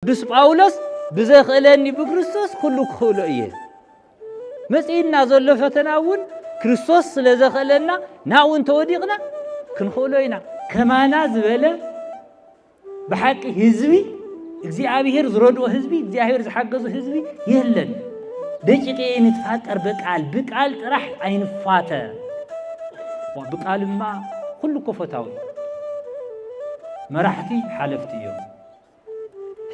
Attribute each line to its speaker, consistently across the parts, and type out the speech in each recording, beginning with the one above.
Speaker 1: ቅዱስ ጳውሎስ ብዘኽእለኒ ብክርስቶስ ኩሉ ክኽእሎ እየ መፅኢና ዘሎ ፈተና እውን ክርስቶስ ስለ ዘኽእለና ናብኡ እንተወዲቕና ክንኽእሎ ኢና ከማና ዝበለ ብሓቂ ህዝቢ እግዚኣብሔር ዝረድኦ ህዝቢ እግዚኣብሔር ዝሓገዙ ህዝቢ የለን ደቂቀ ንትፋቀር በቃል ብቃል ጥራሕ ኣይንፋተ ብቃልማ ኩሉ ኮፈታዊ መራሕቲ ሓለፍቲ እዮም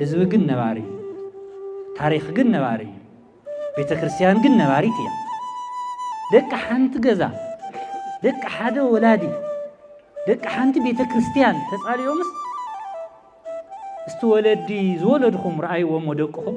Speaker 1: ህዝቢ ግን ነባሪ እዩ። ታሪኽ ግን ነባሪ እዩ። ቤተ ክርስቲያን ግን ነባሪት እያ። ደቂ ሓንቲ ገዛ፣ ደቂ ሓደ ወላዲ፣ ደቂ ሓንቲ ቤተ ክርስቲያን ተጻልዮምስ እስቲ ወለዲ ዝወለድኹም ረኣይዎም ወደቅኹም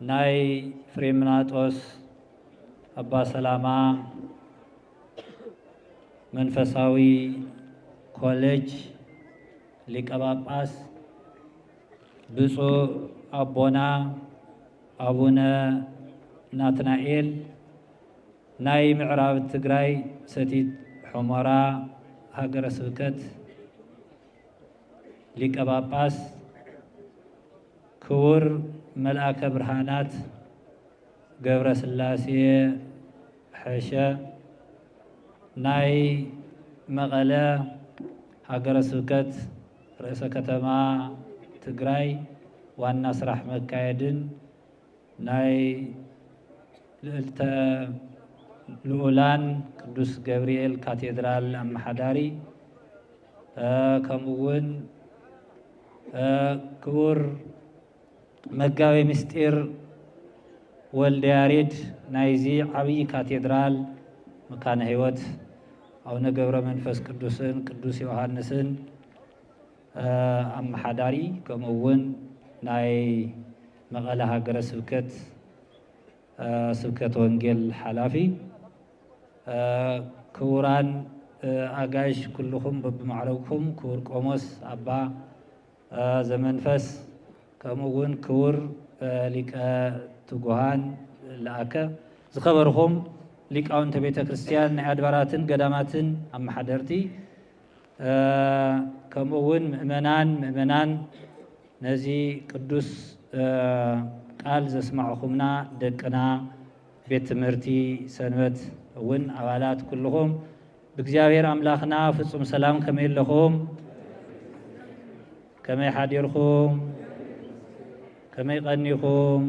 Speaker 1: ናይ ፍሬምናጦስ ኣባ ሰላማ መንፈሳዊ ኮሌጅ ሊቀ ጳጳስ ብፁዕ ኣቦና ኣቡነ ናትናኤል ናይ ምዕራብ ትግራይ ሰቲት ሑመራ ሃገረ ስብከት ሊቀ ጳጳስ ክቡር መልኣከ ብርሃናት ገብረስላሴ ሐሸ ናይ መቐለ ሃገረ ስብከት ርእሰ ከተማ ትግራይ ዋና ስራሕ መካየድን ናይ ልእልተ ልኡላን ቅዱስ ገብርኤል ካቴድራል ኣመሓዳሪ ከምኡ እውን ክቡር መጋቤ ምስጢር ወልደ ያሬድ ናይዚ ዓብዪ ካቴድራል መካነ ሕይወት ኣቡነ ገብረ መንፈስ ቅዱስን ቅዱስ ዮሐንስን ኣመሓዳሪ ከምኡ እውን ናይ መቐለ ሃገረ ስብከት ስብከተ ወንጌል ሓላፊ፣ ክቡራን ኣጋይሽ ኩልኹም በብማዕረግኩም፣ ክቡር ቆሞስ ኣባ ዘመንፈስ ከምኡ እውን ክቡር ሊቀ ትጉሃን ለኣከ፣ ዝኸበርኹም ሊቃውንተ ቤተ ክርስቲያን ናይ ኣድባራትን ገዳማትን ኣመሓደርቲ፣ ከምኡ እውን ምእመናን ምእመናን ነዚ ቅዱስ ቃል ዘስማዕኹምና ደቅና ቤት ትምህርቲ ሰንበት እውን ኣባላት ኩልኹም ብእግዚኣብሔር ኣምላኽና ፍጹም ሰላም ከመይ ኣለኹም? ከመይ ሓዲርኩም ከመይ ቀኒኹም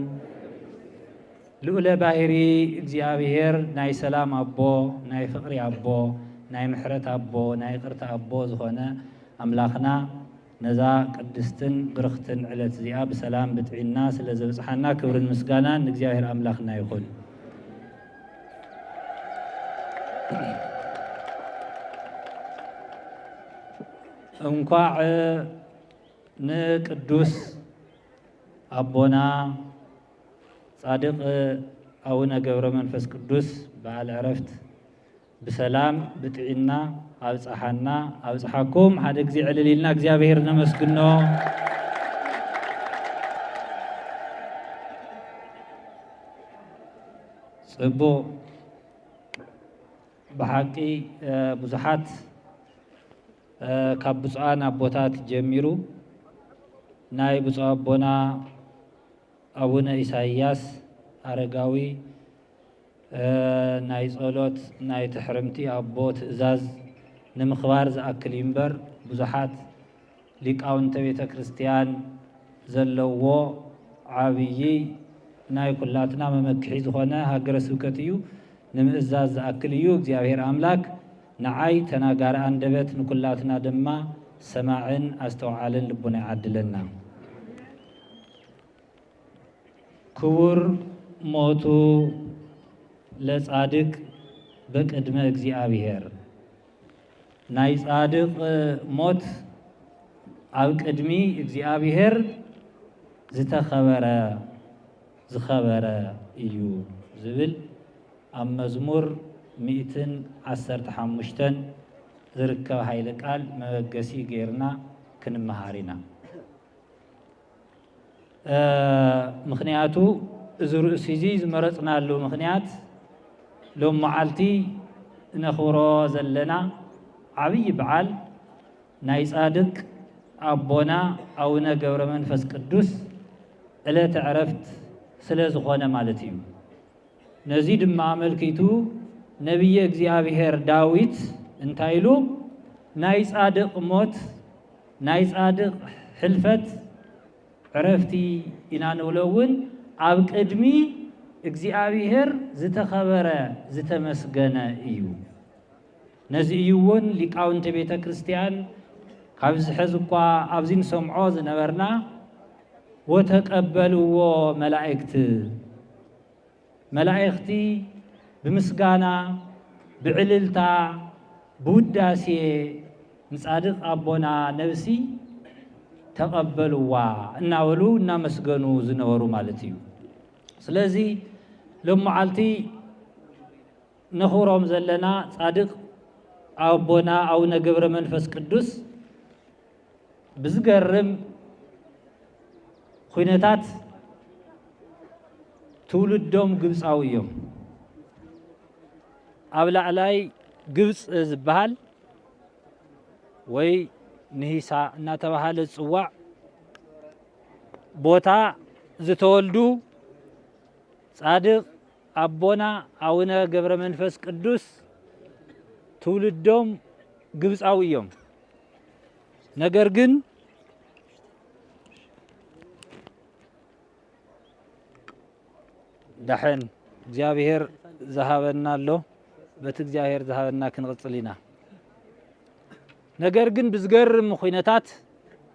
Speaker 1: ልኡለ ባህሪ እግዚኣብሔር ናይ ሰላም ኣቦ ናይ ፍቕሪ ኣቦ ናይ ምሕረት ኣቦ ናይ ቅርታ ኣቦ ዝኾነ ኣምላኽና ነዛ ቅድስትን ብርኽትን ዕለት እዚኣ ብሰላም ብጥዒና ስለ ዘብፅሓና ክብርን ምስጋናን ንእግዚኣብሔር ኣምላኽና ይኹን እንኳዕ ንቅዱስ ኣቦና ጻድቅ ኣቡነ ገብረ መንፈስ ቅዱስ በዓል ዕረፍት ብሰላም ብጥዒና ኣብፀሓና ኣብፀሓኩም ሓደ ግዜ ዕልል ኢልና እግዚኣብሄር ነመስግኖ ፅቡቅ ብሓቂ ብዙሓት ካብ ብፁዓን ኣቦታት ጀሚሩ ናይ ብፁዕ ኣቦና ኣቡነ ኢሳይያስ ኣረጋዊ ናይ ጸሎት ናይ ትሕርምቲ ኣቦ ትእዛዝ ንምኽባር ዝኣክል እዩ እምበር ብዙሓት ሊቃውንተ ቤተ ክርስቲያን ዘለዎ ዓብዪ ናይ ኩላትና መመክሒ ዝኾነ ሃገረ ስብከት እዩ። ንምእዛዝ ዝኣክል እዩ እግዚኣብሔር ኣምላክ ንዓይ ተናጋሪ ኣንደበት ንኩላትና ድማ ሰማዕን ኣስተውዓልን ልቡና ይዓድለና። ክቡር ሞቱ ለጻድቅ በቅድመ እግዚኣብሔር ናይ ጻድቕ ሞት ኣብ ቅድሚ እግዚኣብሄር ዝተኸበረ፣ ዝኸበረ፣ እዩ ዝብል ኣብ መዝሙር ሚእትን ዓሰርተ ሓሙሽተን ዝርከብ ኃይለ ቃል መበገሲ ገይርና ክንመሃር ኢና። ምኽንያቱ እዚ ርእሲ እዚ ዝመረፅናሉ ምኽንያት ሎም መዓልቲ እነኽብሮ ዘለና ዓብዪ በዓል ናይ ፃድቅ ኣቦና ኣውነ ገብረመንፈስ ቅዱስ ዕለተ ዕረፍት ስለዝኾነ ማለት እዩ። ነዚ ድማ ኣመልኪቱ ነብየ እግዚኣብሔር ዳዊት እንታይ ኢሉ ናይ ጻድቕ ሞት ናይ ጻድቕ ሕልፈት ዕረፍቲ ኢና ንብሎ እውን ኣብ ቅድሚ እግዚኣብሔር ዝተኸበረ ዝተመስገነ እዩ። ነዚ እዩ እውን ሊቃውንቲ ቤተ ክርስቲያን ካብ ዝሕዝ እኳ ኣብዚ ንሰምዖ ዝነበርና ወተቀበልዎ መላእክት መላእኽቲ ብምስጋና ብዕልልታ ብውዳሴ ንጻድቕ ኣቦና ነብሲ ተቐበልዋ እናበሉ እናመስገኑ ዝነበሩ ማለት እዩ። ስለዚ ሎመዓልቲ ነኽብሮም ዘለና ጻድቕ ኣቦና ኣቡነ ገብረ መንፈስ ቅዱስ ብዝገርም ኹነታት ትውልዶም ግብፃዊ እዮም። ኣብ ላዕላይ ግብፂ ዝበሃል ወይ ንሂሳ እናተባሃለ ዝፅዋዕ ቦታ ዝተወልዱ ጻድቕ ኣቦና ኣውነ ገብረ መንፈስ ቅዱስ ትውልዶም ግብፃዊ እዮም። ነገር ግን ዳሕን እግዚኣብሔር ዝሃበና ኣሎ በቲ እግዚኣብሔር ዝሃበና ክንቕፅል ኢና ነገር ግን ብዝገርም ኩነታት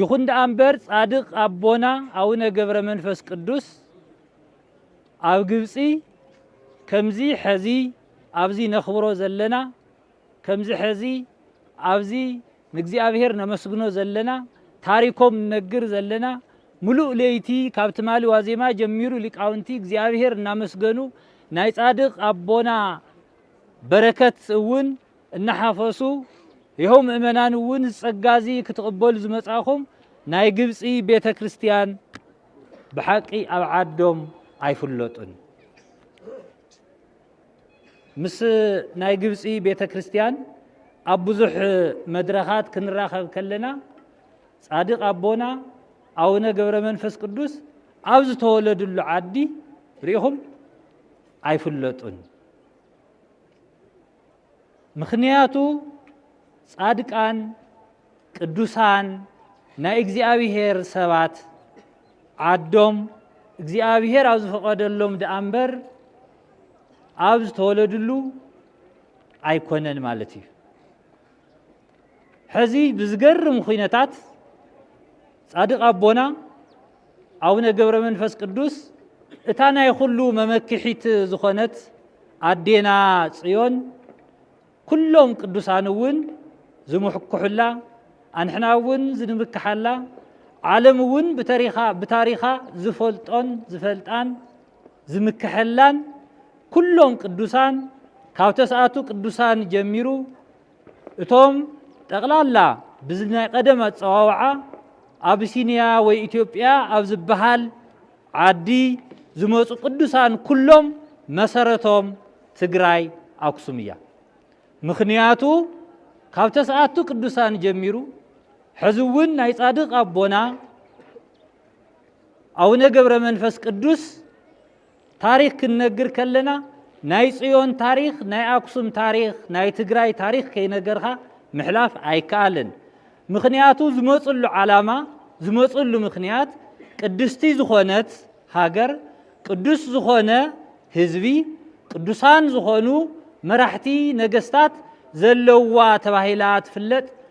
Speaker 1: ይኹን ደኣ እምበር ጻድቕ ኣቦና ኣውነ ገብረ መንፈስ ቅዱስ ኣብ ግብጺ ከምዚ ሐዚ ኣብዚ ነኽብሮ ዘለና ከምዚ ሐዚ ኣብዚ ንእግዚኣብሔር ነመስግኖ ዘለና ታሪኮም ንነግር ዘለና ምሉእ ለይቲ ካብ ትማሊ ዋዜማ ጀሚሩ ሊቃውንቲ እግዚኣብሔር እናመስገኑ ናይ ጻድቕ ኣቦና በረከት እውን እናሓፈሱ፣ ይኸው ምእመናን እውን እዚ ጸጋ እዚ ክትቕበሉ ዝመጻእኹም ናይ ግብጺ ቤተ ክርስቲያን ብሓቂ ኣብ ዓዶም ኣይፍለጡን ምስ ናይ ግብጺ ቤተ ክርስቲያን ኣብ ብዙሕ መድረኻት ክንራኸብ ከለና ጻድቅ ኣቦና ኣቡነ ገብረ መንፈስ ቅዱስ ኣብ ዝተወለድሉ ዓዲ ርኢኹም ኣይፍለጡን። ምኽንያቱ ጻድቃን ቅዱሳን ናይ እግዚኣብሔር ሰባት ዓዶም እግዚኣብሔር ኣብ ዝፈቐደሎም ደኣ እምበር ኣብ ዝተወለድሉ ኣይኮነን ማለት እዩ ሕዚ ብዝገርም ኩነታት ጻድቕ ኣቦና ኣቡነ ገብረ መንፈስ ቅዱስ እታ ናይ ኩሉ መመክሒት ዝኾነት ኣዴና ጽዮን ኩሎም ቅዱሳን እውን ዝምሕኩሑላ ኣንሕና እውን ዝንምክሓላ ዓለም እውን ብታሪኻ ዝፈልጦን ዝፈልጣን ዝምከሐላን ኩሎም ቅዱሳን ካብ ተስኣቱ ቅዱሳን ጀሚሩ እቶም ጠቕላላ ብዚ ናይ ቀደም ኣፀዋውዓ ኣብሲንያ ወይ ኢትዮጵያ ኣብ ዝበሃል ዓዲ ዝመፁ ቅዱሳን ኩሎም መሰረቶም ትግራይ ኣክሱም እያ። ምክንያቱ ካብ ተስኣቱ ቅዱሳን ጀሚሩ ሕዚ እውን ናይ ጻድቅ ኣቦና ኣውነ ገብረ መንፈስ ቅዱስ ታሪክ ክንነግር ከለና ናይ ጽዮን ታሪክ ናይ ኣክሱም ታሪክ ናይ ትግራይ ታሪክ ከይነገርካ ምሕላፍ ኣይከኣልን ምክንያቱ ዝመፅሉ ዓላማ ዝመፅሉ ምክንያት ቅድስቲ ዝኾነት ሃገር ቅዱስ ዝኾነ ህዝቢ ቅዱሳን ዝኾኑ መራሕቲ ነገስታት ዘለዋ ተባሂላ ትፍለጥ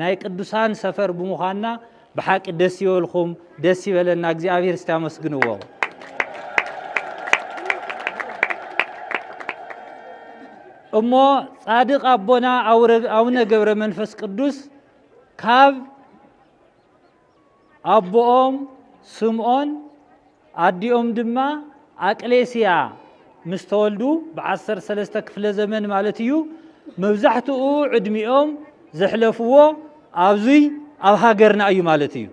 Speaker 1: ናይ ቅዱሳን ሰፈር ብምዃንና ብሓቂ ደስ ይበልኩም፣ ደስ ይበለና። እግዚኣብሔር እስቲ ኣመስግንዎ። እሞ ጻድቅ ኣቦና ኣውነ ገብረ መንፈስ ቅዱስ ካብ ኣቦኦም ስምኦን ኣዲኦም ድማ ኣቅሌስያ ምስ ተወልዱ ብዓሰርተ ሰለስተ ክፍለ ዘመን ማለት እዩ መብዛሕትኡ ዕድሚኦም ዘሕለፍዎ ኣብዙይ ኣብ ሃገርና እዩ ማለት እዩ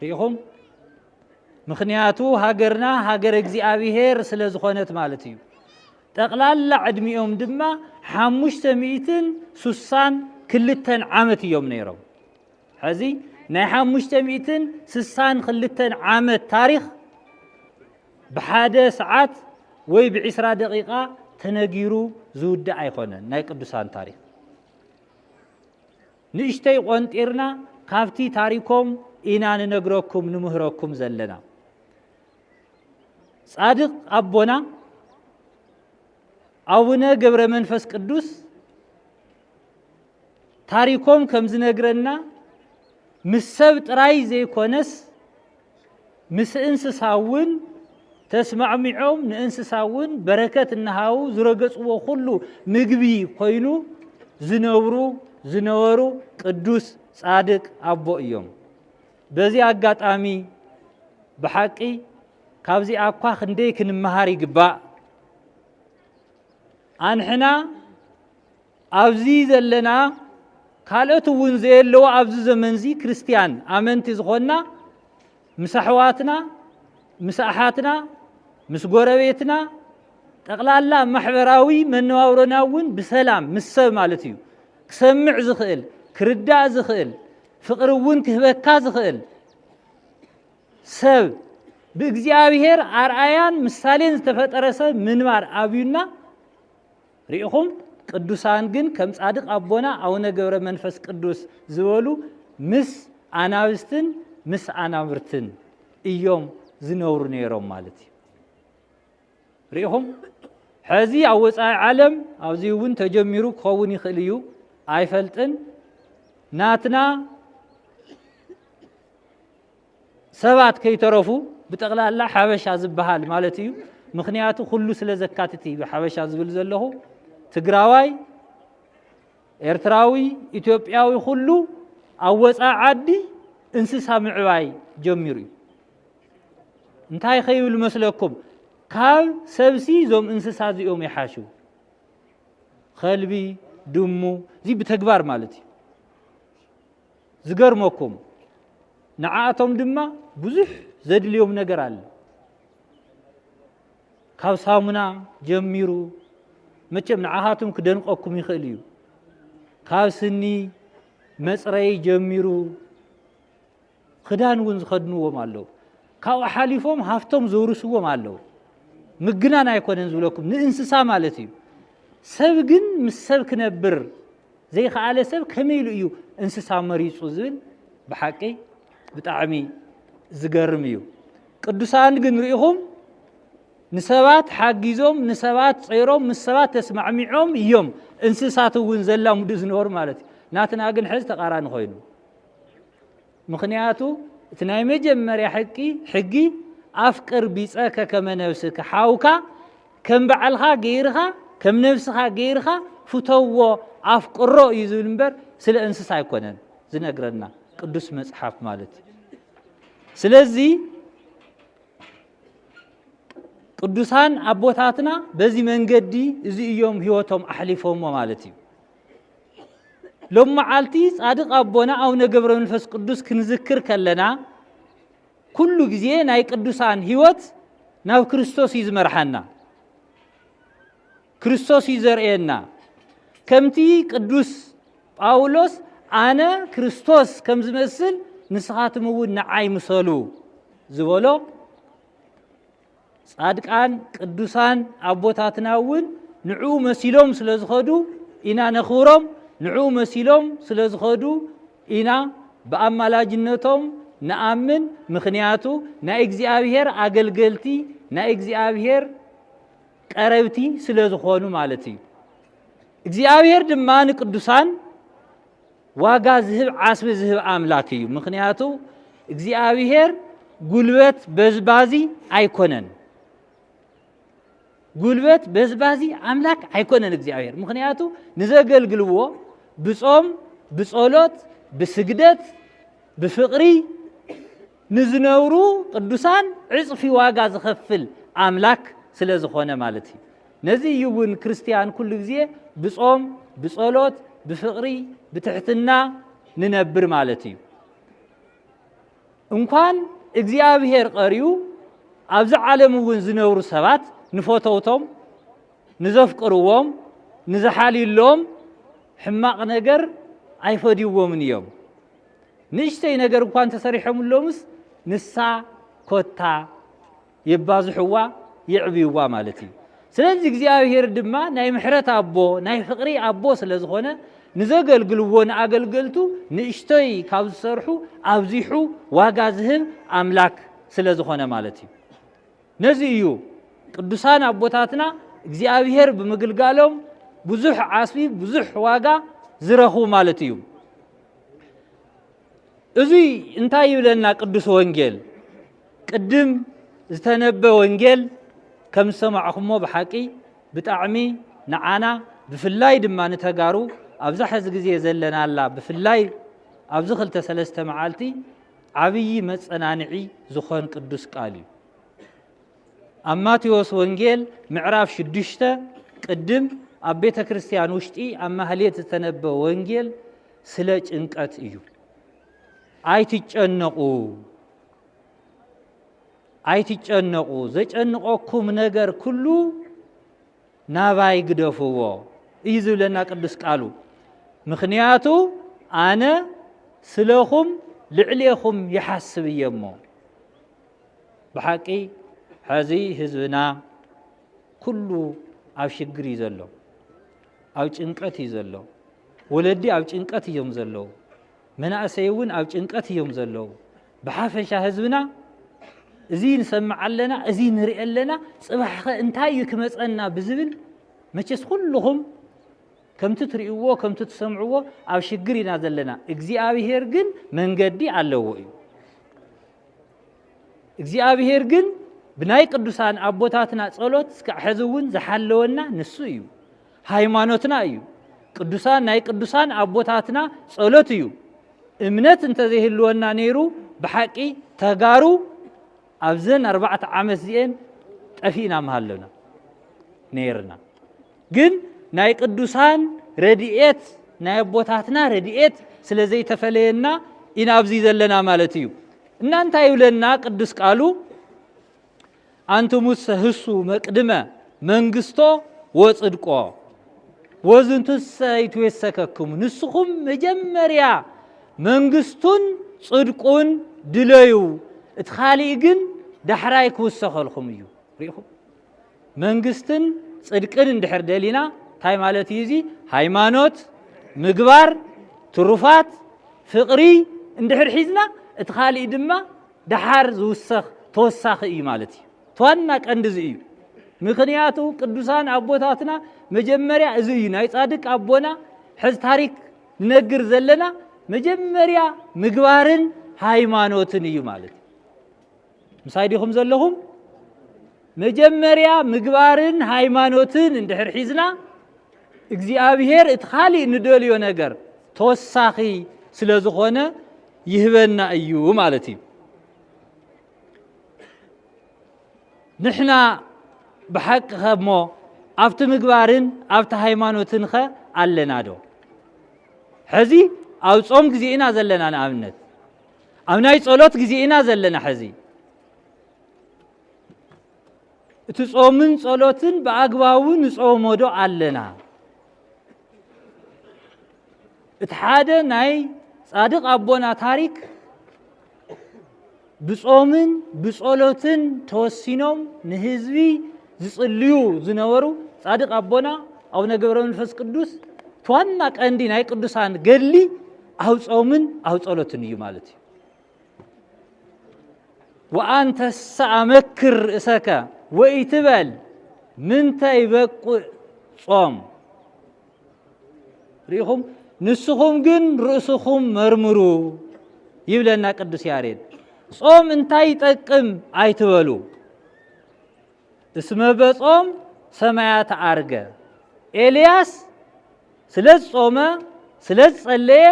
Speaker 1: ርኢኹም ምክንያቱ ሃገርና ሃገር እግዚኣብሄር ስለ ዝኾነት ማለት እዩ ጠቕላላ ዕድሚኦም ድማ ሓሙሽተ ሚእትን ሱሳን ክልተን ዓመት እዮም ነይሮም ሕዚ ናይ ሓሙሽተ ሚእትን ስሳን ክልተን ዓመት ታሪኽ ብሓደ ሰዓት ወይ ብዒስራ ደቂቃ ተነጊሩ ዝውዳእ ኣይኮነን ናይ ቅዱሳን ታሪክ ንእሽተይ ቆንጢርና ካብቲ ታሪኮም ኢና ንነግረኩም ንምህረኩም ዘለና ጻድቅ ኣቦና ኣቡነ ገብረ መንፈስ ቅዱስ ታሪኮም ከም ዝነግረና ምስ ሰብ ጥራይ ዘይኮነስ ምስ እንስሳ እውን ተስማዕሚዖም ንእንስሳ እውን በረከት እናሃቡ ዝረገፅዎ ኩሉ ምግቢ ኮይኑ ዝነብሩ ዝነበሩ ቅዱስ ፃድቅ ኣቦ እዮም። በዚ ኣጋጣሚ ብሓቂ ካብዚ ኣኳ ክንደይ ክንመሃር ይግባእ ኣንሕና ኣብዚ ዘለና ካልኦት እውን ዘየለዎ ኣብዚ ዘመን እዚ ክርስትያን ኣመንቲ ዝኾንና ምስ ኣሕዋትና ምስ ኣሓትና ምስ ጎረቤትና ጠቕላላ ማሕበራዊ መነባብሮና እውን ብሰላም ምስ ሰብ ማለት እዩ ክሰምዕ ዝኽእል ክርዳእ ዝኽእል ፍቕሪ እውን ክህበካ ዝኽእል ሰብ ብእግዚኣብሔር ኣርኣያን ምሳሌን ዝተፈጠረ ሰብ ምንባር ኣብዩና ርኢኹም ቅዱሳን ግን ከም ጻድቅ ኣቦና ኣውነ ገብረ መንፈስ ቅዱስ ዝበሉ ምስ ኣናብስትን ምስ ኣናብርትን እዮም ዝነብሩ ነይሮም ማለት እዩ ርኢኹም ሕዚ ኣብ ወፃኢ ዓለም ኣብዚ እውን ተጀሚሩ ክኸውን ይኽእል እዩ ኣይፈልጥን ናትና ሰባት ከይተረፉ ብጠቕላላ ሓበሻ ዝበሃል ማለት እዩ። ምክንያቱ ኩሉ ስለ ዘካትት እዩ ሓበሻ ዝብል ዘለኹ። ትግራዋይ፣ ኤርትራዊ፣ ኢትዮጵያዊ ኩሉ ኣብ ወፃኢ ዓዲ እንስሳ ምዕባይ ጀሚሩ እዩ። እንታይ ከይብል መስለኩም? ካብ ሰብሲ እዞም እንስሳ እዚኦም ይሓሹ። ከልቢ፣ ድሙ፣ እዚ ብተግባር ማለት እዩ። ዝገርመኩም ንዓኣቶም ድማ ብዙሕ ዘድልዮም ነገር ኣለ ካብ ሳሙና ጀሚሩ መቸም ንዓኻትም ክደንቀኩም ይኽእል እዩ ካብ ስኒ መፅረይ ጀሚሩ ክዳን እውን ዝኸድንዎም ኣለዉ ካብኡ ሓሊፎም ሃፍቶም ዘውርስዎም ኣለዉ ምግናን ኣይኮነን ዝብለኩም ንእንስሳ ማለት እዩ ሰብ ግን ምስ ሰብ ክነብር ዘይኸኣለ ሰብ ከመይ ኢሉ እዩ እንስሳ መሪጹ ዝብል ብሓቂ ብጣዕሚ ዝገርም እዩ። ቅዱሳን ግን ርኢኹም ንሰባት ሓጊዞም ንሰባት ጸይሮም ምስ ሰባት ተስማዕሚዖም እዮም እንስሳት እውን ዘላምዱ ዝነበሩ ማለት እዩ ናትና ግን ሕዚ ተቃራኒ ኮይኑ ምኽንያቱ እቲ ናይ መጀመርያ ሕቂ ሕጊ ኣፍቅር ቢጸከ ከመ ነብስከ ሓውካ ከም በዓልኻ ገይርኻ ከም ነብስኻ ገይርኻ ፍተዎ ኣፍቅሮ እዩ ዝብል እምበር ስለ እንስሳ ኣይኮነን ዝነግረና ቅዱስ መጽሓፍ ማለት እዩ ስለዚ ቅዱሳን ኣቦታትና በዚ መንገዲ እዚ እዮም ህይወቶም ኣሕሊፎሞ ማለት እዩ ሎም መዓልቲ ጻድቕ ኣቦና ኣቡነ ገብረ መንፈስ ቅዱስ ክንዝክር ከለና ኩሉ ግዜ ናይ ቅዱሳን ህይወት ናብ ክርስቶስ እዩ ዝመርሓና ክርስቶስ እዩ ዘርእየና ከምቲ ቅዱስ ጳውሎስ ኣነ ክርስቶስ ከም ዝመስል ንስኻትም እውን ንዓይ ምሰሉ ዝበሎ ጻድቃን ቅዱሳን ኣቦታትና እውን ንዕኡ መሲሎም ስለ ዝኸዱ ኢና ነኽብሮም፣ ንዕኡ መሲሎም ስለ ዝኸዱ ኢና ብኣማላጅነቶም ንኣምን። ምኽንያቱ ናይ እግዚኣብሔር ኣገልገልቲ ናይ እግዚኣብሔር ቀረብቲ ስለ ዝኾኑ ማለት እዩ። እግዚኣብሔር ድማ ንቅዱሳን ዋጋ ዝህብ ዓስቢ ዝህብ ኣምላክ እዩ ምክንያቱ እግዚኣብሄር ጉልበት በዝባዚ ኣይኮነን ጉልበት በዝባዚ ኣምላክ ኣይኮነን እግዚኣብሄር ምክንያቱ ንዘገልግልዎ ብጾም ብጸሎት ብስግደት ብፍቕሪ ንዝነብሩ ቅዱሳን ዕጽፊ ዋጋ ዝኸፍል ኣምላክ ስለ ዝኾነ ማለት እዩ። ነዚ እዩ እውን ክርስትያን ኩሉ ግዜ ብጾም፣ ብጸሎት፣ ብፍቕሪ፣ ብትሕትና ንነብር ማለት እዩ። እንኳን እግዚኣብሔር ቐርዩ ኣብዚ ዓለም እውን ዝነብሩ ሰባት ንፈተውቶም ንዘፍቅርዎም ንዝሓልዩሎም ሕማቕ ነገር ኣይፈድይዎምን እዮም። ንእሽተይ ነገር እኳ እንተሰሪሖምሎምስ ንሳ ኮታ የባዝሕዋ የዕብይዋ ማለት እዩ ስለዚ እግዚኣብሄር ድማ ናይ ምሕረት ኣቦ ናይ ፍቕሪ ኣቦ ስለ ዝኾነ ንዘገልግልዎ ንኣገልገልቱ ንእሽቶይ ካብ ዝሰርሑ ኣብዚሑ ዋጋ ዝህብ ኣምላክ ስለ ዝኾነ ማለት እዩ ነዚ እዩ ቅዱሳን ኣቦታትና እግዚኣብሄር ብምግልጋሎም ብዙሕ ዓስቢ ብዙሕ ዋጋ ዝረኽቡ ማለት እዩ እዙይ እንታይ ይብለና ቅዱስ ወንጌል? ቅድም ዝተነበ ወንጌል ከም ዝሰማዕኹሞ ብሓቂ ብጣዕሚ ንዓና ብፍላይ ድማ ንተጋሩ ኣብዛ ሕዚ ግዜ ዘለናላ ብፍላይ ኣብዚ ክልተ ሰለስተ መዓልቲ ዓብዪ መፀናንዒ ዝኾን ቅዱስ ቃል እዩ። ኣብ ማቴዎስ ወንጌል ምዕራፍ ሽዱሽተ ቅድም ኣብ ቤተ ክርስቲያን ውሽጢ ኣብ ማህሌት ዝተነበ ወንጌል ስለ ጭንቀት እዩ። ኣይትጨነቑ ኣይትጨነቑ፣ ዘጨንቐኩም ነገር ኩሉ ናባይ ግደፍዎ እዩ ዝብለና ቅዱስ ቃሉ። ምክንያቱ ኣነ ስለኹም ልዕሌኹም ይሓስብ እየ እሞ ብሓቂ ሕዚ ህዝብና ኩሉ ኣብ ሽግር እዩ ዘሎ። ኣብ ጭንቀት እዩ ዘሎ ወለዲ ኣብ ጭንቀት እዮም ዘለዉ መናእሰይ እውን ኣብ ጭንቀት እዮም ዘለዉ ብሓፈሻ ህዝብና እዚ ንሰምዕ ኣለና እዚ ንርኢ ኣለና ፅባሕኸ እንታይ እዩ ክመፀና ብዝብል መቸስ ኩልኹም ከምቲ ትርእይዎ ከምቲ ትሰምዕዎ ኣብ ሽግር ኢና ዘለና እግዚኣብሄር ግን መንገዲ ኣለዎ እዩ እግዚኣብሔር ግን ብናይ ቅዱሳን ኣቦታትና ጸሎት እስካዕ ሕዚ እውን ዝሓለወና ንሱ እዩ ሃይማኖትና እዩ ቅዱሳን ናይ ቅዱሳን ኣቦታትና ጸሎት እዩ እምነት እንተዘይህልወና ነይሩ ብሓቂ ተጋሩ ኣብዘን ኣርባዕተ ዓመት እዚአን ጠፊእና ምሃለና ነይርና ግን ናይ ቅዱሳን ረድኤት ናይ ኣቦታትና ረድኤት ስለ ዘይተፈለየና ኢና ኣብዚ ዘለና ማለት እዩ እና እንታይ ይብለና ቅዱስ ቃሉ አንትሙሰ ህሱ መቅድመ መንግስቶ ወጽድቆ ወዝንቱሰ ይትዌሰከክሙ ንስኹም መጀመርያ መንግስቱን ጽድቁን ድለዩ እቲ ካልእ ግን ዳሕራይ ክውሰኸልኹም እዩ ሪኢኹም መንግስትን ጽድቅን እንድሕር ደሊና እንታይ ማለት እዩ እዚ ሃይማኖት ምግባር ትሩፋት ፍቕሪ እንድሕር ሒዝና እቲ ካልእ ድማ ደሓር ዝውሰኽ ተወሳኺ እዩ ማለት እዩ ተዋና ቀንዲ እዚ እዩ ምክንያቱ ቅዱሳን ኣቦታትና መጀመርያ እዚ እዩ ናይ ጻድቅ ኣቦና ሕዚ ታሪክ ንነግር ዘለና መጀመርያ ምግባርን ሃይማኖትን እዩ ማለት እዩ ምሳይ ዲኹም ዘለኹም መጀመርያ ምግባርን ሃይማኖትን እንድሕር ሒዝና እግዚኣብሄር እቲ ካሊእ ንደልዮ ነገር ተወሳኺ ስለ ዝኾነ ይህበና እዩ ማለት እዩ ንሕና ብሓቂ ከሞ ኣብቲ ምግባርን ኣብቲ ሃይማኖትን ኸ ኣለና ዶ ሕዚ ኣብ ጾም ግዜ ኢና ዘለና ንኣብነት ኣብ ናይ ጸሎት ግዜ ኢና ዘለና ሕዚ እቲ ጾምን ጸሎትን ብኣግባቡ ንጾሞዶ ኣለና እቲ ሓደ ናይ ጻድቕ ኣቦና ታሪክ ብጾምን ብጸሎትን ተወሲኖም ንህዝቢ ዝጽልዩ ዝነበሩ ጻድቅ ኣቦና ኣቡነ ገብረ መንፈስ ቅዱስ ዋና ቀንዲ ናይ ቅዱሳን ገድሊ ኣብ ጾምን ኣብ ጸሎትን እዩ ማለት እዩ ወኣንተሰ ኣመክር ርእሰከ ወኢትበል ምንተ ይበቁዕ ጾም ርኢኹም ንስኹም ግን ርእስኹም መርምሩ ይብለና ቅዱስ ያሬድ ጾም እንታይ ይጠቅም ኣይትበሉ እስመ በጾም ሰማያት ኣርገ ኤልያስ ስለ ዝጾመ ስለ ዝጸለየ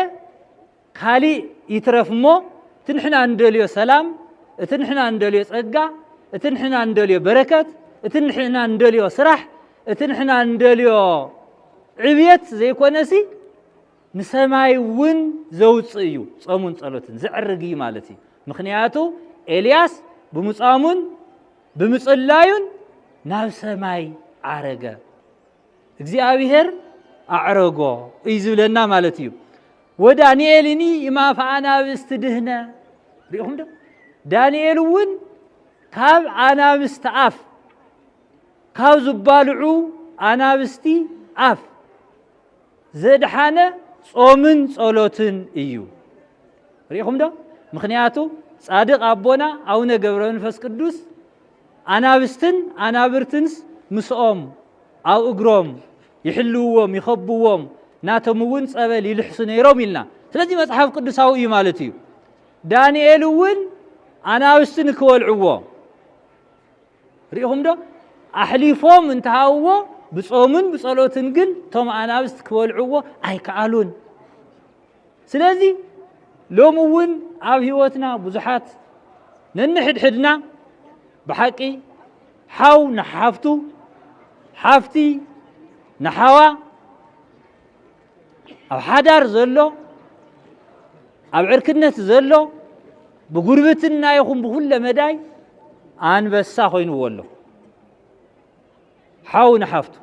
Speaker 1: ካሊእ ይትረፍ እሞ እቲ ንሕና እንደልዮ ሰላም እቲ ንሕና እንደልዮ ጸጋ እቲ ንሕና እንደልዮ በረከት እቲ ንሕና እንደልዮ ስራሕ እቲ ንሕና እንደልዮ ዕብየት ዘይኮነሲ ንሰማይ እውን ዘውፅእ እዩ ጾሙን ጸሎትን ዝዕርግ እዩ ማለት እዩ ምክንያቱ ኤልያስ ብምጻሙን ብምጽላዩን ናብ ሰማይ ዓረገ እግዚኣብሔር ኣዕረጎ እዩ ዝብለና ማለት እዩ ወዳንኤልኒ እማፈ ኣናብስቲ ድህነ ሪኢኹም ዶ ዳንኤል እውን ካብ ኣናብስቲ ኣፍ ካብ ዝባልዑ ኣናብስቲ ኣፍ ዘድሓነ ጾምን ጸሎትን እዩ። ርኢኹም ዶ? ምክንያቱ ጻድቅ ኣቦና ኣቡነ ገብረ መንፈስ ቅዱስ ኣናብስትን ኣናብርትንስ ምስኦም ኣብ እግሮም ይሕልውዎም ይኸብዎም ናቶም እውን ጸበል ይልሕሱ ነይሮም ኢልና ስለዚ መጽሓፍ ቅዱሳዊ እዩ ማለት እዩ ዳንኤል እውን ኣናብስቲ ንክበልዕዎ ርኢኹም ዶ ኣሕሊፎም እንተሃብዎ ብጾምን ብጸሎትን ግን እቶም ኣናብስት ክበልዕዎ ኣይከኣሉን ስለዚ ሎሚ እውን ኣብ ህይወትና ብዙሓት ነንሕድሕድና ብሓቂ ሓው ንሓፍቱ ሓፍቲ ንሓዋ ኣብ ሓዳር ዘሎ ኣብ ዕርክነት ዘሎ ብጉርብትና ይኹን ብኩለ መዳይ ኣንበሳ ኮይኑዎ ኣሎ ሓው ንሓፍቱ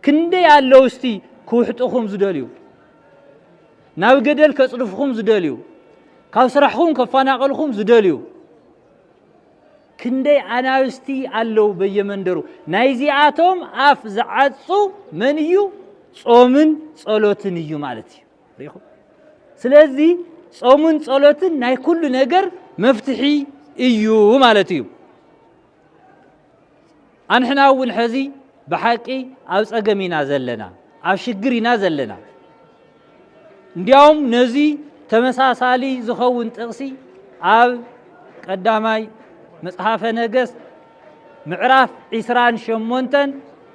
Speaker 1: ክንደይ ኣለዉ እስቲ ክውሕጡኹም ዝደልዩ ናብ ገደል ከጽድፍኹም ዝደልዩ ካብ ስራሕኹም ከፋናቐልኹም ዝደልዩ ክንደይ ኣናብስቲ ኣለው በየመንደሩ ናይዚኣቶም ኣፍ ዝዓጹ መን እዩ ጾምን ጸሎትን እዩ ማለት እዩ ሪኹ ስለዚ ጾምን ጸሎትን ናይ ኩሉ ነገር መፍትሒ እዩ ማለት እዩ ኣንሕና እውን ሕዚ ብሓቂ ኣብ ጸገም ኢና ዘለና፣ ኣብ ሽግር ኢና ዘለና። እንዲያውም ነዚ ተመሳሳሊ ዝኸውን ጥቕሲ ኣብ ቀዳማይ መጽሓፈ ነገሥት ምዕራፍ ዒስራን ሸሞንተን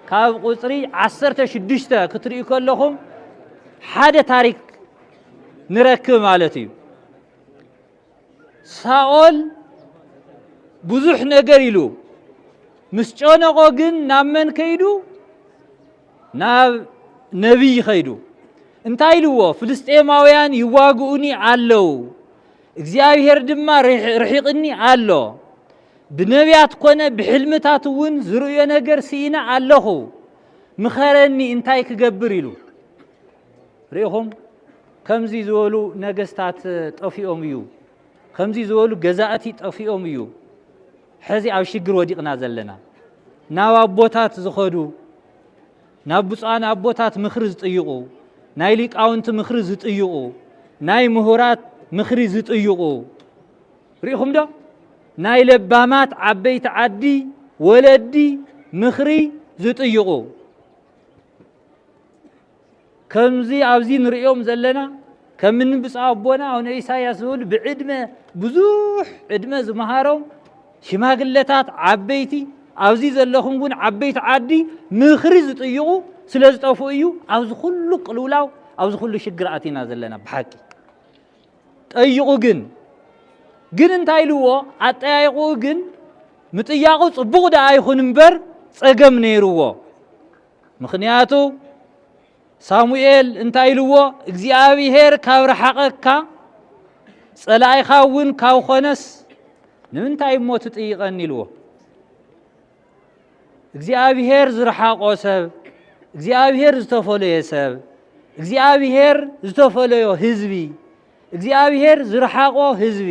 Speaker 1: ካብ ቁጽሪ ዓሰርተ ሽዱሽተ ክትርእዩ ከለኹም ሓደ ታሪክ ንረክብ ማለት እዩ። ሳኦል ብዙሕ ነገር ኢሉ ምስ ጨነቆ ግን ናብ መን ከይዱ? ናብ ነቢይ ከይዱ። እንታይ ኢልዎ? ፍልስጤማውያን ይዋግኡኒ ኣለው፣ እግዚኣብሄር ድማ ርሒቕኒ ኣሎ። ብነቢያት ኮነ ብሕልምታት እውን ዝርእዮ ነገር ስኢነ ኣለኹ፣ ምኸረኒ እንታይ ክገብር ኢሉ ርኢኹም ከምዚ ዝበሉ ነገስታት ጠፊኦም እዩ፣ ከምዚ ዝበሉ ገዛእቲ ጠፊኦም እዩ ሕዚ ኣብ ሽግር ወዲቕና ዘለና። ናብ ኣቦታት ዝኸዱ ናብ ብፁዓን ኣቦታት ምኽሪ ዝጥይቑ ናይ ሊቃውንቲ ምኽሪ ዝጥይቑ ናይ ምሁራት ምኽሪ ዝጥይቑ ርኢኹም ዶ ናይ ለባማት ዓበይቲ ዓዲ ወለዲ ምኽሪ ዝጥይቑ ከምዚ ኣብዚ ንርእዮም ዘለና ከም እኒ ብፁዕ ኣቦና ኣቡነ ኢሳያስ ዝብሉ ብዕድመ ብዙሕ ዕድመ ዝመሃሮም ሽማግለታት ዓበይቲ ኣብዚ ዘለኹም እውን ዓበይቲ ዓዲ ምኽሪ ዝጥይቑ ስለ ዝጠፍኡ እዩ ኣብዚ ኩሉ ቅልውላው ኣብዚ ኩሉ ሽግር ኣቲና ዘለና ብሓቂ ጠይቑ ግን ግን እንታይ ኢልዎ ኣጠያይቑኡ ግን ምጥያቑ ፅቡቕ ደኣ ይኹን እምበር ፀገም ነይርዎ ምኽንያቱ ሳሙኤል እንታይ ኢልዎ? እግዚኣብሄር ካብ ረሓቐካ ጸላኢኻ እውን ካብ ኾነስ ንምንታይ እሞ ትጥይቐኒ ኢልዎ። እግዚኣብሄር ዝረሓቆ ሰብ፣ እግዚኣብሄር ዝተፈለየ ሰብ፣ እግዚኣብሄር ዝተፈለዮ ህዝቢ፣ እግዚኣብሄር ዝረሓቆ ህዝቢ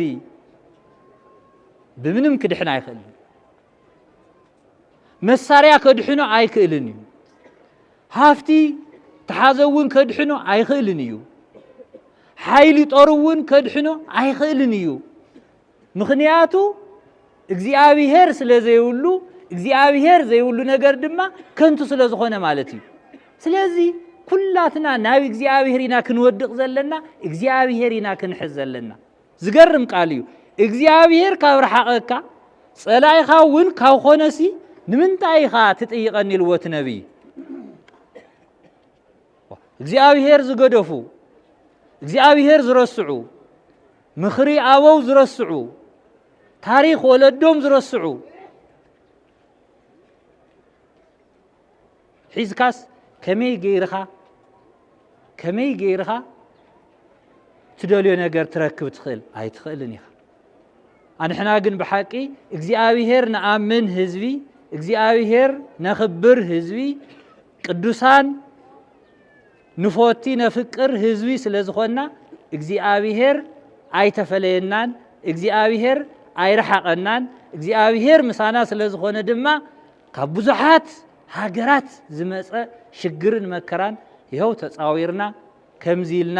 Speaker 1: ብምንም ክድሕን ኣይኽእልን። መሳርያ ከድሕኖ ኣይክእልን እዩ። ሃፍቲ ተሓዘ እውን ከድሕኖ ኣይኽእልን እዩ። ሓይሊ ጦር እውን ከድሕኖ ኣይኽእልን እዩ። ምኽንያቱ እግዚኣብሄር ስለ ዘይብሉ እግዚኣብሄር ዘይብሉ ነገር ድማ ከንቱ ስለ ዝኾነ ማለት እዩ። ስለዚ ኩላትና ናብ እግዚኣብሄር ኢና ክንወድቕ ዘለና፣ እግዚኣብሄር ኢና ክንሕዝ ዘለና። ዝገርም ቃል እዩ እግዚኣብሄር ካብ ረሓቐካ ጸላኢኻ እውን ካብ ኾነሲ ንምንታይ ኢኻ ትጥይቐኒ ኢልዎ እቲ ነቢይ እግዚኣብሄር ዝገደፉ እግዚኣብሄር ዝረስዑ ምኽሪ ኣበው ዝረስዑ ታሪኽ ወለዶም ዝረስዑ ሒዝካስ ከመይ ገይርኻ ከመይ ገይርኻ ትደልዮ ነገር ትረክብ ትኽእል ኣይትኽእልን ኢኻ ኣንሕና ግን ብሓቂ እግዚኣብሄር ንኣምን ህዝቢ እግዚኣብሄር ነኽብር ህዝቢ ቅዱሳን ንፎቲ ነፍቅር ህዝቢ ስለ ዝኾንና እግዚኣብሄር ኣይተፈለየናን እግዚኣብሄር ኣይረሓቐናን እግዚኣብሄር ምሳና ስለ ዝኾነ ድማ ካብ ብዙሓት ሃገራት ዝመጸ ሽግርን መከራን ይኸው ተጻዊርና ከምዚ ኢልና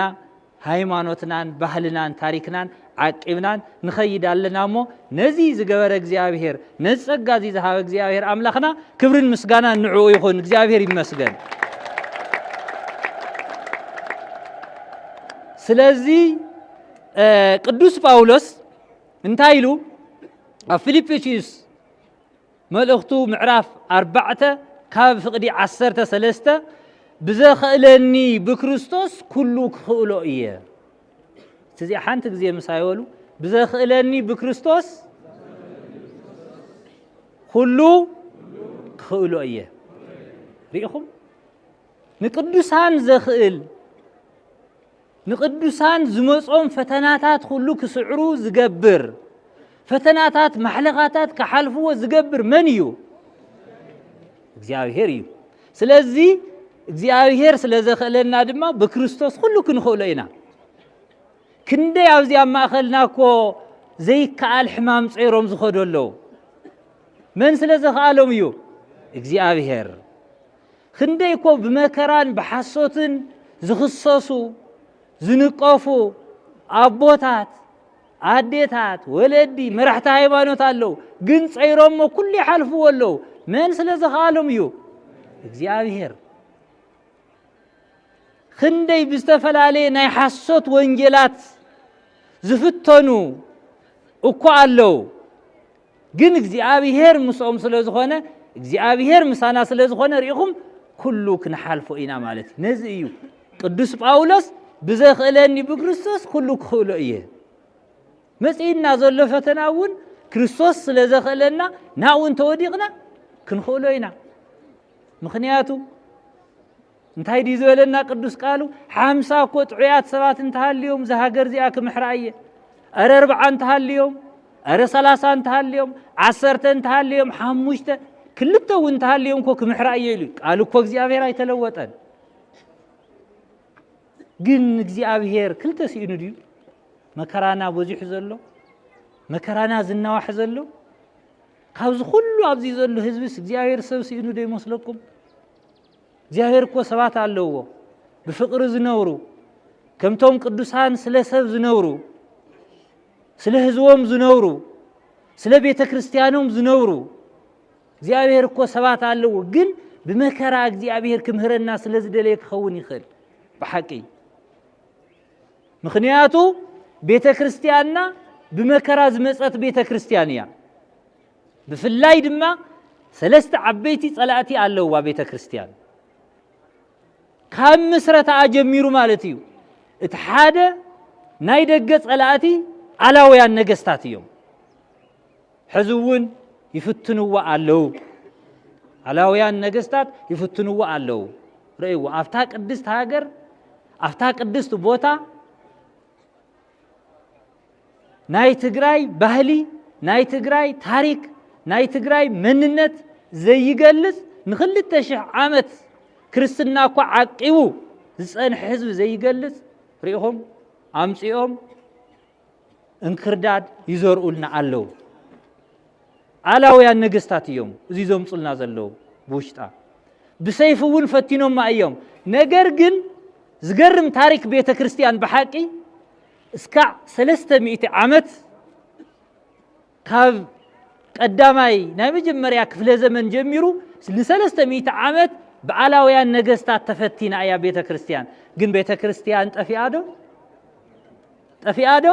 Speaker 1: ሃይማኖትናን ባህልናን ታሪክናን ዓቂብናን ንኸይድ ኣለና እሞ ነዚ ዝገበረ እግዚኣብሄር ነዚ ጸጋ እዚ ዝሃበ እግዚኣብሄር ኣምላኽና ክብርን ምስጋናን ንዕኡ ይኹን እግዚኣብሄር ይመስገን ስለዚ ቅዱስ ጳውሎስ እንታይ ኢሉ ኣብ ፊልጵስዩስ መልእኽቱ ምዕራፍ ኣርባዕተ ካብ ፍቕዲ ዓሰርተ ሰለስተ ብዘኸእለኒ ብክርስቶስ ኩሉ ክኽእሎ እየ እዚ ሓንቲ ግዜ ምሳይ በሉ ብዘኽእለኒ ብክርስቶስ ኩሉ ክኽእሎ እየ ርኢኹም ንቅዱሳን ዘኽእል ንቅዱሳን ዝመጾም ፈተናታት ኹሉ ክስዕሩ ዝገብር ፈተናታት ማሕለኻታት ክሓልፍዎ ዝገብር መን እዩ? እግዚኣብሄር እዩ። ስለዚ እግዚኣብሄር ስለ ዘኽእለና ድማ ብክርስቶስ ኩሉ ክንኽእሎ ኢና። ክንደይ ኣብዚ ኣብ ማእኸልና እኮ ዘይከኣል ሕማም ጸይሮም ዝኸዱ ኣለዉ። መን ስለ ዘኽኣሎም እዩ? እግዚኣብሄር። ክንደይ እኮ ብመከራን ብሓሶትን ዝኽሰሱ ዝንቀፉ ኣቦታት ኣዴታት ወለዲ መራሕቲ ሃይማኖት ኣለው ግን ፀይሮሞ ኩሉ ይሓልፍዎ ኣለው መን ስለ ዝኸኣሎም እዩ እግዚኣብሄር ክንደይ ብዝተፈላለየ ናይ ሓሶት ወንጌላት ዝፍተኑ እኮ ኣለው ግን እግዚኣብሄር ምስኦም ስለ ዝኾነ እግዚኣብሄር ምሳና ስለ ዝኾነ ርኢኹም ኩሉ ክንሓልፎ ኢና ማለት እዩ ነዚ እዩ ቅዱስ ጳውሎስ ብዘኽእለኒ ብክርስቶስ ኩሉ ክኽእሎ እየ መፅእና ዘሎ ፈተና እውን ክርስቶስ ስለ ዘኽእለና ናብኡ እንተወዲቕና ክንኽእሎ ኢና ምክንያቱ እንታይ ድዩ ዝበለና ቅዱስ ቃሉ ሓምሳ እኮ ጥዑያት ሰባት እንተሃልዮም እዛ ሃገር እዚኣ ክምሕራ እየ ኣረ ኣርብዓ እንተሃልዮም ኣረ ሰላሳ እንተሃልዮም ዓሰርተ እንተሃልዮም ሓሙሽተ ክልተ እውን እንተሃልዮም እኮ ክምሕራ እየ ኢሉ ቃሉ እኮ እግዚኣብሔር ኣይተለወጠን ግን እግዚኣብሔር ክልተ ስኢኑ ድዩ መከራና በዚሑ ዘሎ መከራና ዝናዋሕ ዘሎ ካብዚ ኩሉ ኣብዚ ዘሎ ህዝብስ እግዚኣብሔር ሰብ ስኢኑ ዶ ይመስለኩም እግዚኣብሔር እኮ ሰባት ኣለዎ ብፍቅሪ ዝነብሩ ከምቶም ቅዱሳን ስለ ሰብ ዝነብሩ ስለ ህዝቦም ዝነብሩ ስለ ቤተ ክርስቲያኖም ዝነብሩ እግዚኣብሔር እኮ ሰባት ኣለዎ ግን ብመከራ እግዚኣብሔር ክምህረና ስለ ዝደለየ ክኸውን ይኽእል ብሓቂ ምክንያቱ ቤተ ክርስቲያንና ብመከራ ዝመፀት ቤተ ክርስቲያን እያ ብፍላይ ድማ ሰለስተ ዓበይቲ ጸላእቲ ኣለዋ ቤተ ክርስቲያን ካብ ምስረታኣ ጀሚሩ ማለት እዩ። እቲ ሓደ ናይ ደገ ጸላእቲ ኣላውያን ነገስታት እዮም። ሕዚ እውን ይፍትንዋ ኣለዉ። ኣላውያን ነገስታት ይፍትንዎ ኣለዉ ርእይዎ ኣብታ ቅድስት ሃገር ኣብታ ቅድስት ቦታ ናይ ትግራይ ባህሊ፣ ናይ ትግራይ ታሪክ፣ ናይ ትግራይ መንነት ዘይገልፅ ንክልተ ሽሕ ዓመት ክርስትና እኳ ዓቂቡ ዝፀንሐ ህዝቢ ዘይገልፅ ሪኢኹም ኣምፂኦም እንክርዳድ ይዘርኡልና ኣለዉ። ኣላውያን ነገስታት እዮም እዚ ዘምፁልና ዘለዉ ብውሽጣ ብሰይፊ እውን ፈቲኖማ እዮም። ነገር ግን ዝገርም ታሪክ ቤተ ክርስቲያን ብሓቂ እስካዕ ሰለስተ ሚእቲ ዓመት ካብ ቀዳማይ ናይ መጀመርያ ክፍለ ዘመን ጀሚሩ ንሰለስተ ሚእቲ ዓመት ብዓላውያን ነገስታት ተፈቲና እያ ቤተ ክርስቲያን። ግን ቤተ ክርስቲያን ጠፊኣ ዶ ጠፊኣ ዶ?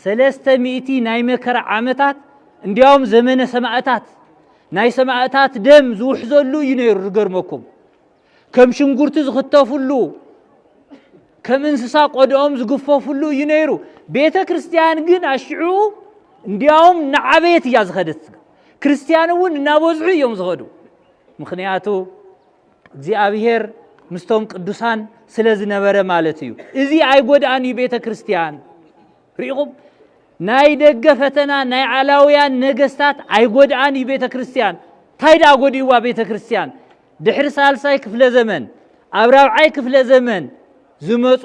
Speaker 1: ሰለስተ ሚእቲ ናይ መከራ ዓመታት እንዲያውም ዘመነ ሰማእታት ናይ ሰማእታት ደም ዝውሕዘሉ እዩ ነይሩ። ዝገርመኩም ከም ሽንጉርቲ ዝኽተፍሉ ከም እንስሳ ቆድኦም ዝግፈፍሉ እዩ ነይሩ ቤተ ክርስቲያን ግን ኣሽዑ እንዲያውም ንዓበየት እያ ዝኸደት ክርስቲያን እውን እናበዝሑ እዮም ዝኸዱ ምክንያቱ እግዚኣብሄር ምስቶም ቅዱሳን ስለ ዝነበረ ማለት እዩ እዚ ኣይጎድኣን እዩ ቤተ ክርስቲያን ርኢኹም ናይ ደገ ፈተና ናይ ዓላውያን ነገስታት ኣይጎድኣን እዩ ቤተ ክርስቲያን እንታይ ደኣ ጎዲእዋ ቤተ ክርስቲያን ድሕሪ ሳልሳይ ክፍለ ዘመን ኣብ ራብዓይ ክፍለ ዘመን ዝመፁ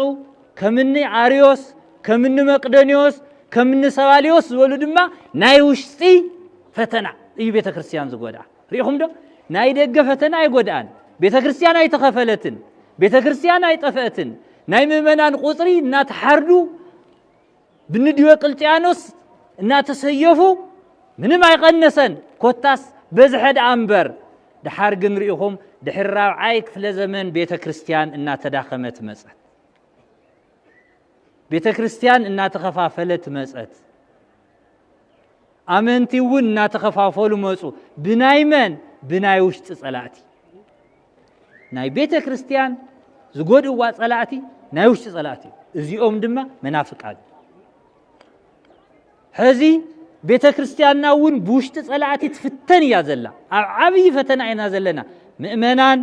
Speaker 1: ከምኒ ኣርዮስ ከምኒ መቅደኒዎስ ከምኒ ሰባሊዎስ ዝበሉ ድማ ናይ ውሽጢ ፈተና እዩ ቤተ ክርስቲያን ዝጎድኣ ርኢኹም ዶ ናይ ደገ ፈተና ኣይጎድኣን ቤተ ክርስቲያን ኣይተኸፈለትን ቤተ ክርስቲያን ኣይጠፍአትን ናይ ምእመናን ቁፅሪ እናተሓርዱ ብንዲዮቅልጥያኖስ እናተሰየፉ ምንም ኣይቐነሰን ኮታስ በዝሐ ደኣ እምበር ደሓር ግን ርኢኹም ድሕሪ ራብዓይ ክፍለ ዘመን ቤተ ክርስቲያን እናተዳኸመት መፀት ቤተ ክርስቲያን እናተኸፋፈለት መፀት ኣመንቲ እውን እናተኸፋፈሉ መፁ ብናይ መን ብናይ ውሽጢ ፀላእቲ ናይ ቤተ ክርስቲያን ዝጎድእዋ ጸላእቲ ናይ ውሽጢ ጸላእቲ እዚኦም ድማ መናፍቃን ሕዚ ቤተ ክርስቲያንና እውን ብውሽጢ ጸላእቲ ትፍተን እያ ዘላ ኣብ ዓብዪ ፈተና ኢና ዘለና ምእመናን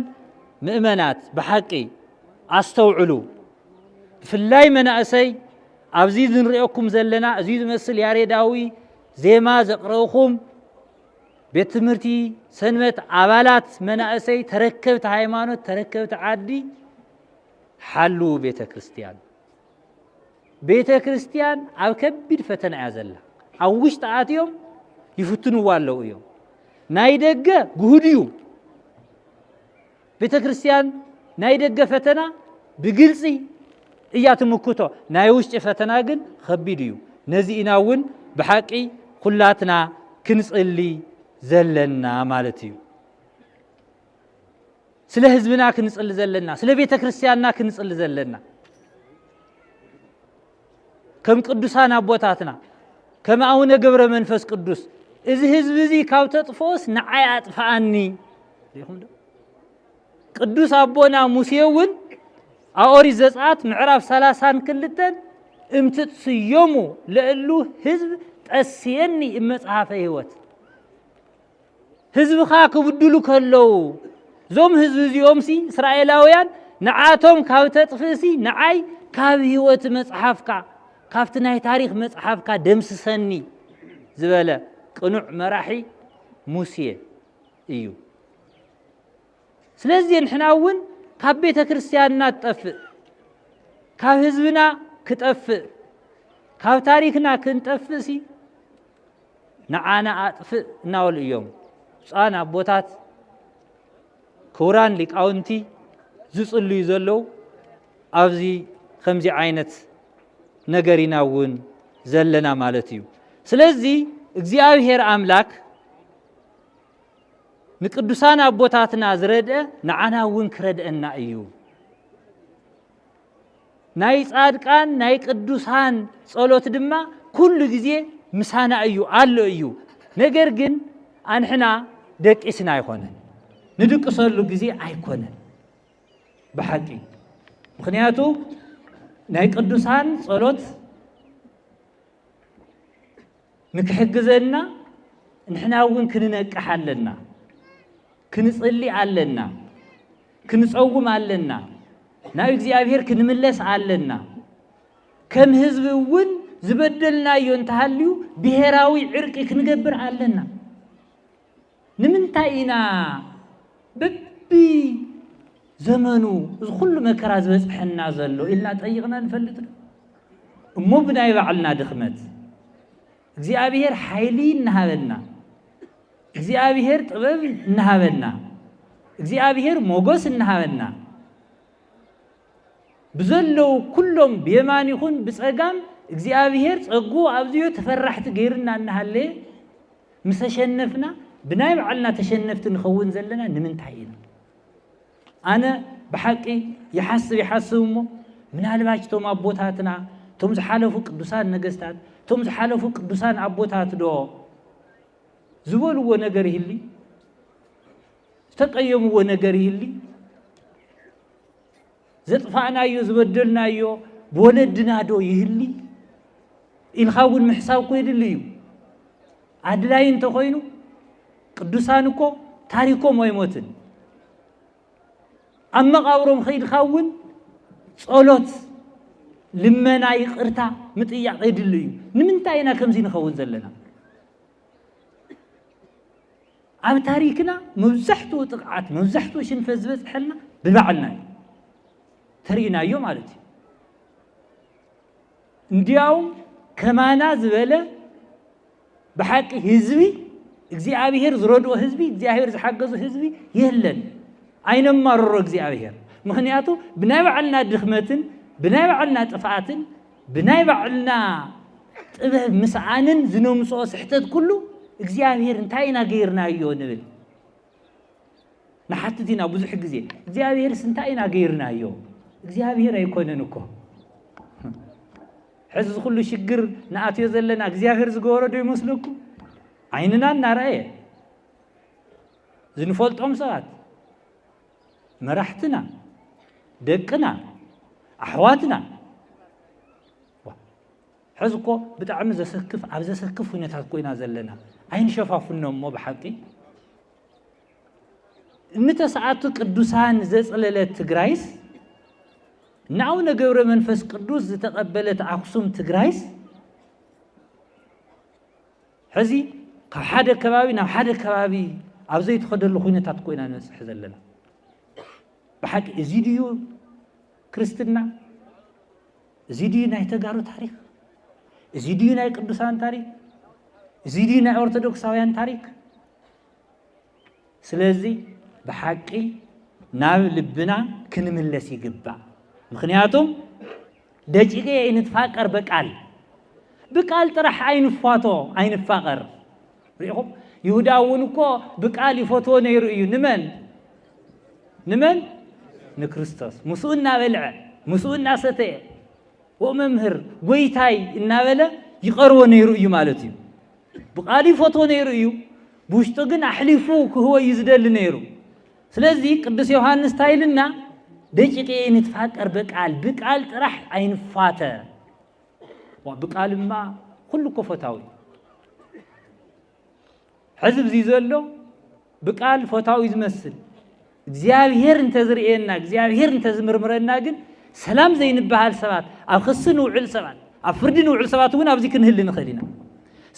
Speaker 1: ምእመናት ብሓቂ ኣስተውዕሉ ብፍላይ መናእሰይ ኣብዚ ዝንሪኦኩም ዘለና እዚ ዝመስል ያሬዳዊ ዜማ ዘቕረብኹም ቤት ትምህርቲ ሰንበት ኣባላት መናእሰይ ተረከብቲ ሃይማኖት ተረከብቲ ዓዲ ሓልው ቤተ ክርስትያን ቤተ ክርስትያን ኣብ ከቢድ ፈተና እያ ዘላ ኣብ ውሽጢ ኣትዮም ይፍትንዋ ኣለዉ እዮም ናይ ደገ ግሁድ እዩ ቤተ ክርስቲያን ናይ ደገ ፈተና ብግልፂ እያ ትምክቶ፣ ናይ ውሽጢ ፈተና ግን ኸቢድ እዩ። ነዚ ኢና እውን ብሓቂ ኩላትና ክንፅሊ ዘለና ማለት እዩ። ስለ ህዝብና ክንፅሊ ዘለና፣ ስለ ቤተ ክርስቲያንና ክንፅሊ ዘለና ከም ቅዱሳን ኣቦታትና ከም ኣቡነ ገብረ መንፈስ ቅዱስ እዚ ህዝቢ እዚ ካብ ተጥፍኦስ ንዓይ ኣጥፍኣኒ ሪኹም ዶ ቅዱስ ኣቦና ሙሴ እውን ኣብ ኦሪት ዘጽኣት ምዕራፍ ሰላሳን ክልተን እምትጽዮሙ ለእሉ ህዝብ ጠስየኒ እመጽሓፈ ህይወት ህዝብኻ ክብድሉ ከለዉ እዞም ህዝቢ እዚኦምሲ እስራኤላውያን ንዓቶም ካብ ተጥፍእሲ ንዓይ ካብ ህይወት መጽሓፍካ ካብቲ ናይ ታሪክ መጽሓፍካ ደምስሰኒ ዝበለ ቅኑዕ መራሒ ሙሴ እዩ ስለዚ ንሕና እውን ካብ ቤተ ክርስቲያንና ትጠፍእ ካብ ህዝብና ክጠፍእ ካብ ታሪክና ክንጠፍእ ሲ ንዓና ኣጥፍእ እናበሉ እዮም ብፁዓን ኣቦታት ክቡራን ሊቃውንቲ ዝጽልዩ ዘለዉ ኣብዚ ከምዚ ዓይነት ነገር ኢና እውን ዘለና ማለት እዩ ስለዚ እግዚኣብሔር ኣምላክ ንቅዱሳን ኣቦታትና ዝረድአ ንዓና እውን ክረድአና እዩ ናይ ጻድቃን ናይ ቅዱሳን ጸሎት ድማ ኩሉ ግዜ ምሳና እዩ ኣሎ እዩ ነገር ግን ኣንሕና ደቂስና ኣይኮነን ንድቅሰሉ ግዜ ኣይኮነን ብሓቂ ምክንያቱ ናይ ቅዱሳን ጸሎት ንክሕግዘና ንሕና እውን ክንነቅሕ ኣለና፣ ክንጽሊ ኣለና፣ ክንጸውም ኣለና፣ ናብ እግዚኣብሔር ክንምለስ ኣለና። ከም ህዝቢ እውን ዝበደልናዮ እንተሃልዩ ብሔራዊ ዕርቂ ክንገብር ኣለና። ንምንታይ ኢና በቢ ዘመኑ እዚ ኩሉ መከራ ዝበጽሐና ዘሎ ኢልና ጠይቕና ንፈልጥ ዶ? እሞ ብናይ ባዕልና ድኽመት እግዚኣብሔር ሓይሊ እናሃበና እግዚኣብሔር ጥበብ እናሃበና እግዚኣብሔር ሞገስ እናሃበና ብዘለዉ ኩሎም ብየማን ይኹን ብጸጋም እግዚኣብሔር ጸጉ ኣብዚዮ ተፈራሕቲ ገይርና እናሃለየ ምስ ተሸነፍና ብናይ ባዕልና ተሸነፍቲ ንኸውን ዘለና ንምንታይ ኢና ኣነ ብሓቂ ይሓስብ ይሓስብ እሞ ምናልባች እቶም ኣቦታትና እቶም ዝሓለፉ ቅዱሳን ነገስታት እቶም ዝሓለፉ ቅዱሳን ኣቦታት ዶ ዝበልዎ ነገር ይህሊ ዝተቀየምዎ ነገር ይህሊ ዘጥፋእናዮ ዝበደልናዮ ብወለድና ዶ ይህሊ ኢልካ እውን ምሕሳብ እኮ የድሊ እዩ ኣድላይ እንተኮይኑ ቅዱሳን እኮ ታሪኮም ኣይሞትን ኣብ መቃብሮም ከይድካ እውን ጸሎት ልመና ይቅርታ ምጥያቕ የድሊ እዩ ንምንታይ ኢና ከምዚ ንኸውን ዘለና ኣብ ታሪክና መብዛሕትኡ ጥቕዓት መብዛሕትኡ ሽንፈት ዝበፅሐልና ብባዕልና እዩ ተርእናዮ ማለት እዩ እንዲያውም ከማና ዝበለ ብሓቂ ህዝቢ እግዚኣብሔር ዝረድኦ ህዝቢ እግዚኣብሔር ዝሓገዙ ህዝቢ የለን ኣይነማርሮ እግዚኣብሔር ምክንያቱ ብናይ ባዕልና ድኽመትን ብናይ ባዕልና ጥፍኣትን ብናይ ባዕልና ጥበብ ምስኣንን ዝነምጽኦ ስሕተት ኩሉ እግዚኣብሔር እንታይ ኢና ገይርናዮ ንብል ንሓትት ኢና ብዙሕ ግዜ እግዚኣብሔርስ እንታይ ኢና ገይርናዮ እግዚኣብሔር ኣይኮነን እኮ ሕዚ ዝኩሉ ሽግር ንኣትዮ ዘለና እግዚኣብሔር ዝገበሮ ዶ ይመስለኩም ዓይንና እናረኣየ ዝንፈልጦም ሰባት መራሕትና ደቅና ኣሕዋትና ሕዚ እኮ ብጣዕሚ ዘሰክፍ ኣብ ዘሰክፍ ኩነታት ኮይና ዘለና ኣይንሸፋፍኖ እሞ ብሓቂ እንተሰኣቱ ቅዱሳን ዘፅለለት ትግራይስ ንኣቡነ ገብረ መንፈስ ቅዱስ ዝተቐበለት ኣክሱም ትግራይስ ሕዚ ካብ ሓደ ከባቢ ናብ ሓደ ከባቢ ኣብ ዘይትኸደሉ ኩነታት እኮ ኢና ንበፅሕ ዘለና ብሓቂ እዚ ድዩ ክርስትና እዚ ድዩ ናይ ተጋሩ ታሪክ እዚ ድዩ ናይ ቅዱሳን ታሪክ እዚ ድዩ ናይ ኦርቶዶክሳውያን ታሪክ ስለዚ ብሓቂ ናብ ልብና ክንምለስ ይግባእ። ምክንያቱም ደቂቀ ንትፋቀር በቃል ብቃል ጥራሕ ኣይንፋቶ ኣይንፋቀር ሪኢኹም ይሁዳ እውን እኮ ብቃል ይፈትዎ ነይሩ እዩ ንመን ንመን ንክርስቶስ ምስኡ እናበልዐ ምስኡ እናሰተየ ወመምህር ጎይታይ እናበለ ይቐርቦ ነይሩ እዩ ማለት እዩ ብቃሉ ይፈትዎ ነይሩ እዩ፣ ብውሽጡ ግን ኣሕሊፉ ክህቦ እዩ ዝደሊ ነይሩ። ስለዚ ቅዱስ ዮሐንስ እንታይ ኢልና ደቂቂ ንትፋቀር በቃል ብቃል ጥራሕ ኣይንፋተ ብቃልማ ኩሉ እኮ ፈታዊ ሕዚ ብዚ ዘሎ ብቃል ፈታዊ ዝመስል እግዚኣብሔር እንተዝርእየና እግዚኣብሔር እንተዝምርምረና ግን ሰላም ዘይንበሃል ሰባት ኣብ ክሲ ንውዕል ሰባት ኣብ ፍርዲ ንውዕል ሰባት እውን ኣብዚ ክንህሊ ንኽእል ኢና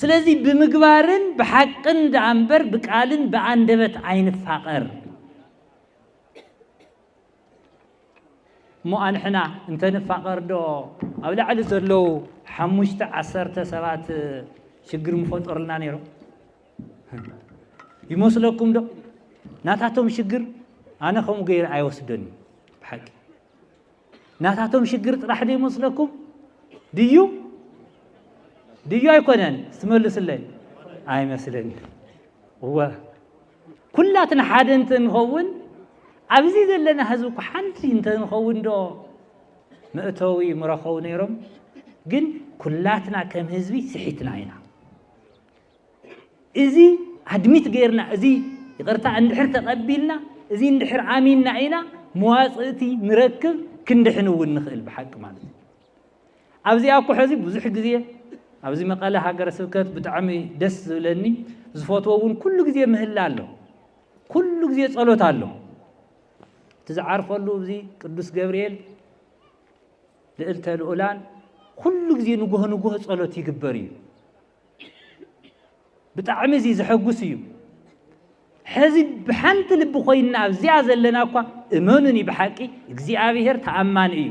Speaker 1: ስለዚ ብምግባርን ብሓቅን ደኣ እምበር ብቃልን ብኣንደበት ኣይንፋቐር እሞ ኣንሕና እንተንፋቐር ዶ ኣብ ላዕሊ ዘለዉ ሓሙሽተ ዓሰርተ ሰባት ሽግር ምፈጠሩልና ነይሮም ይመስለኩም ዶ ናታቶም ሽግር ኣነ ከምኡ ገይረ ኣይወስደን እዩ ብሓቂ ናታቶም ሽግር ጥራሕ ዶ ይመስለኩም ድዩ ድዩ ኣይኮነን ስትመልስለይ ኣይመስለኒ እወ ኩላትና ሓደ እንተ ንኸውን ኣብዚ ዘለና ህዝቢ እኮ ሓንቲ እንተ ንኸውን ዶ መእተዊ ምረኸቡ ነይሮም ግን ኩላትና ከም ህዝቢ ስሒትና ኢና እዚ ኣድሚት ገይርና እዚ ይቕርታ እንድሕር ተቐቢልና እዚ እንድሕር ኣሚንና ኢና መዋፅእቲ ንረክብ ክንድሕን እውን ንኽእል ብሓቂ ማለት እዩ ኣብዚኣ እኮ ሕዚ ብዙሕ ግዜ ኣብዚ መቐለ ሃገረ ስብከት ብጣዕሚ ደስ ዝብለኒ ዝፈትዎ እውን ኩሉ ግዜ ምህላ ኣሎ ኩሉ ግዜ ጸሎት ኣሎ እቲ ዝዓርፈሉ እዚ ቅዱስ ገብርኤል ልእልተ ልኡላን ኩሉ ግዜ ንጉሆ ንጉሆ ጸሎት ይግበር እዩ ብጣዕሚ እዚ ዘሐጉስ እዩ። ሕዚ ብሓንቲ ልቢ ኮይና ኣብዚኣ ዘለና እኳ እመኑኒ ብሓቂ እግዚኣብሄር ተኣማኒ እዩ።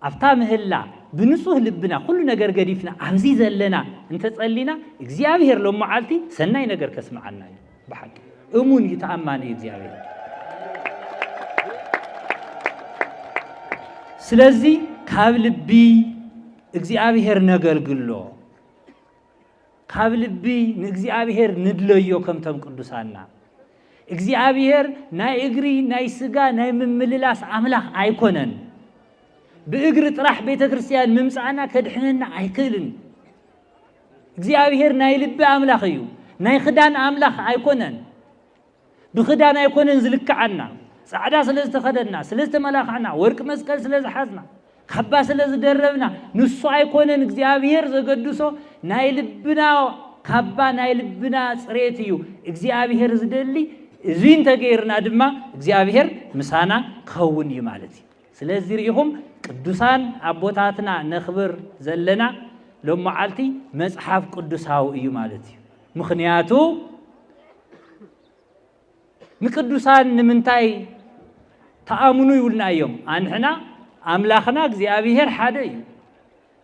Speaker 1: ኣብታ ምህላ ብንጹህ ልብና ኩሉ ነገር ገዲፍና ኣብዚ ዘለና እንተጸሊና እግዚኣብሄር ሎም መዓልቲ ሰናይ ነገር ከስምዓና እዩ ብሓቂ እሙን እዩ ተኣማኒ እዩ እግዚኣብሄር ስለዚ ካብ ልቢ እግዚኣብሔር ነገልግሎ ካብ ልቢ ንእግዚኣብሔር ንድለዮ ከምቶም ቅዱሳና እግዚኣብሔር ናይ እግሪ ናይ ስጋ ናይ ምምልላስ ኣምላኽ ኣይኮነን። ብእግሪ ጥራሕ ቤተ ክርስቲያን ምምፃእና ከድሕነና ኣይክእልን። እግዚኣብሔር ናይ ልቢ ኣምላኽ እዩ፣ ናይ ክዳን ኣምላኽ ኣይኮነን። ብኽዳን ኣይኮነን ዝልክዓና፣ ጻዕዳ ስለ ዝተኸደና፣ ስለ ዝተመላኽዕና፣ ወርቂ መስቀል ስለ ዝሓዝና፣ ካባ ስለ ዝደረብና፣ ንሱ ኣይኮነን እግዚኣብሔር ዘገድሶ ናይ ልብና ካባ ናይ ልብና ጽሬት እዩ እግዚኣብሔር ዝደሊ እዚ እንተገይርና ድማ እግዚኣብሔር ምሳና ክኸውን እዩ ማለት እዩ ስለዚ ርኢኹም ቅዱሳን ኣቦታትና ነኽብር ዘለና ሎመዓልቲ መፅሓፍ ቅዱሳዊ እዩ ማለት እዩ ምኽንያቱ ንቅዱሳን ንምንታይ ተኣምኑ ይብሉና እዮም። ኣንሕና ኣምላኽና እግዚኣብሔር ሓደ እዩ፣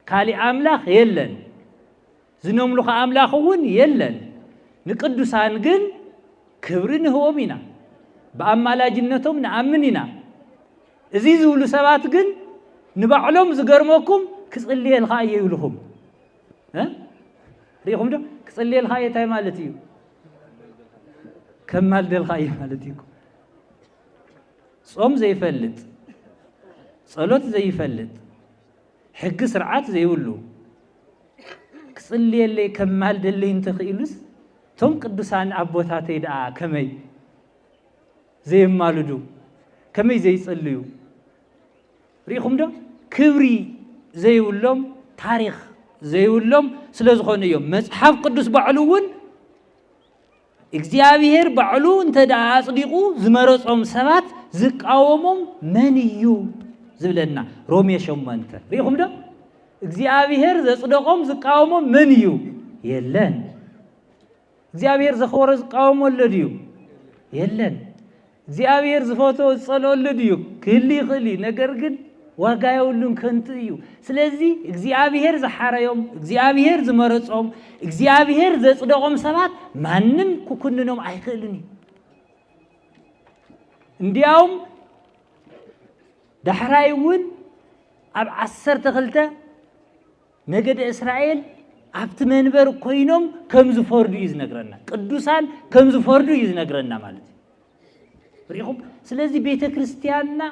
Speaker 1: ካሊእ ኣምላኽ የለን፣ ዝነምልኾ ኣምላኽ እውን የለን። ንቅዱሳን ግን ክብሪ ንህቦም ኢና፣ ብኣማላጅነቶም ንኣምን ኢና። እዚ ዝብሉ ሰባት ግን ንባዕሎም ዝገርመኩም ክጽልየልካ እየ ይብልኹም። ሪኢኹም ዶ ክጽልየልካ እየ እንታይ ማለት እዩ ከማልደልካ እየ ማለት እዩ ጾም ዘይፈልጥ ጸሎት ዘይፈልጥ ሕጊ ስርዓት ዘይብሉ ክጽልየለይ ከማልደለይ እንተኽኢሉስ እቶም ቅዱሳን ኣቦታተይ ደኣ ከመይ ዘየማልዱ ከመይ ዘይጽልዩ ርኢኹም ዶ ክብሪ ዘይብሎም ታሪኽ ዘይብሎም ስለ ዝኾኑ እዮም መጽሓፍ ቅዱስ ባዕሉ እውን እግዚኣብሄር ባዕሉ እንተ ደኣ ኣጽዲቑ ዝመረጾም ሰባት ዝቃወሞም መን እዩ ዝብለና ሮሜ ሸሞንተ ርኢኹም ዶ እግዚኣብሄር ዘጽደቖም ዝቃወሞም መን እዩ የለን እግዚኣብሔር ዘኽበሮ ዝቃወሞ ኣሎ ድዩ? የለን። እግዚኣብሔር ዝፈትዎ ዝጸልኦ ኣሎ ድዩ? ክህሉ ይኽእል እዩ። ነገር ግን ዋጋ የብሉን፣ ከንቱ እዩ። ስለዚ እግዚኣብሔር ዝሓረዮም፣ እግዚኣብሔር ዝመረጾም፣ እግዚኣብሔር ዘጽደቖም ሰባት ማንም ክኩንኖም ኣይክእልን እዩ። እንዲያውም ዳሕራይ እውን ኣብ ዓሰርተ ክልተ ነገደ እስራኤል ኣብቲ መንበር ኮይኖም ከም ዝፈርዱ እዩ ዝነግረና ቅዱሳን ከም ዝፈርዱ እዩ ዝነግረና ማለት እዩ ሪኹም ስለዚ ቤተ ክርስቲያንና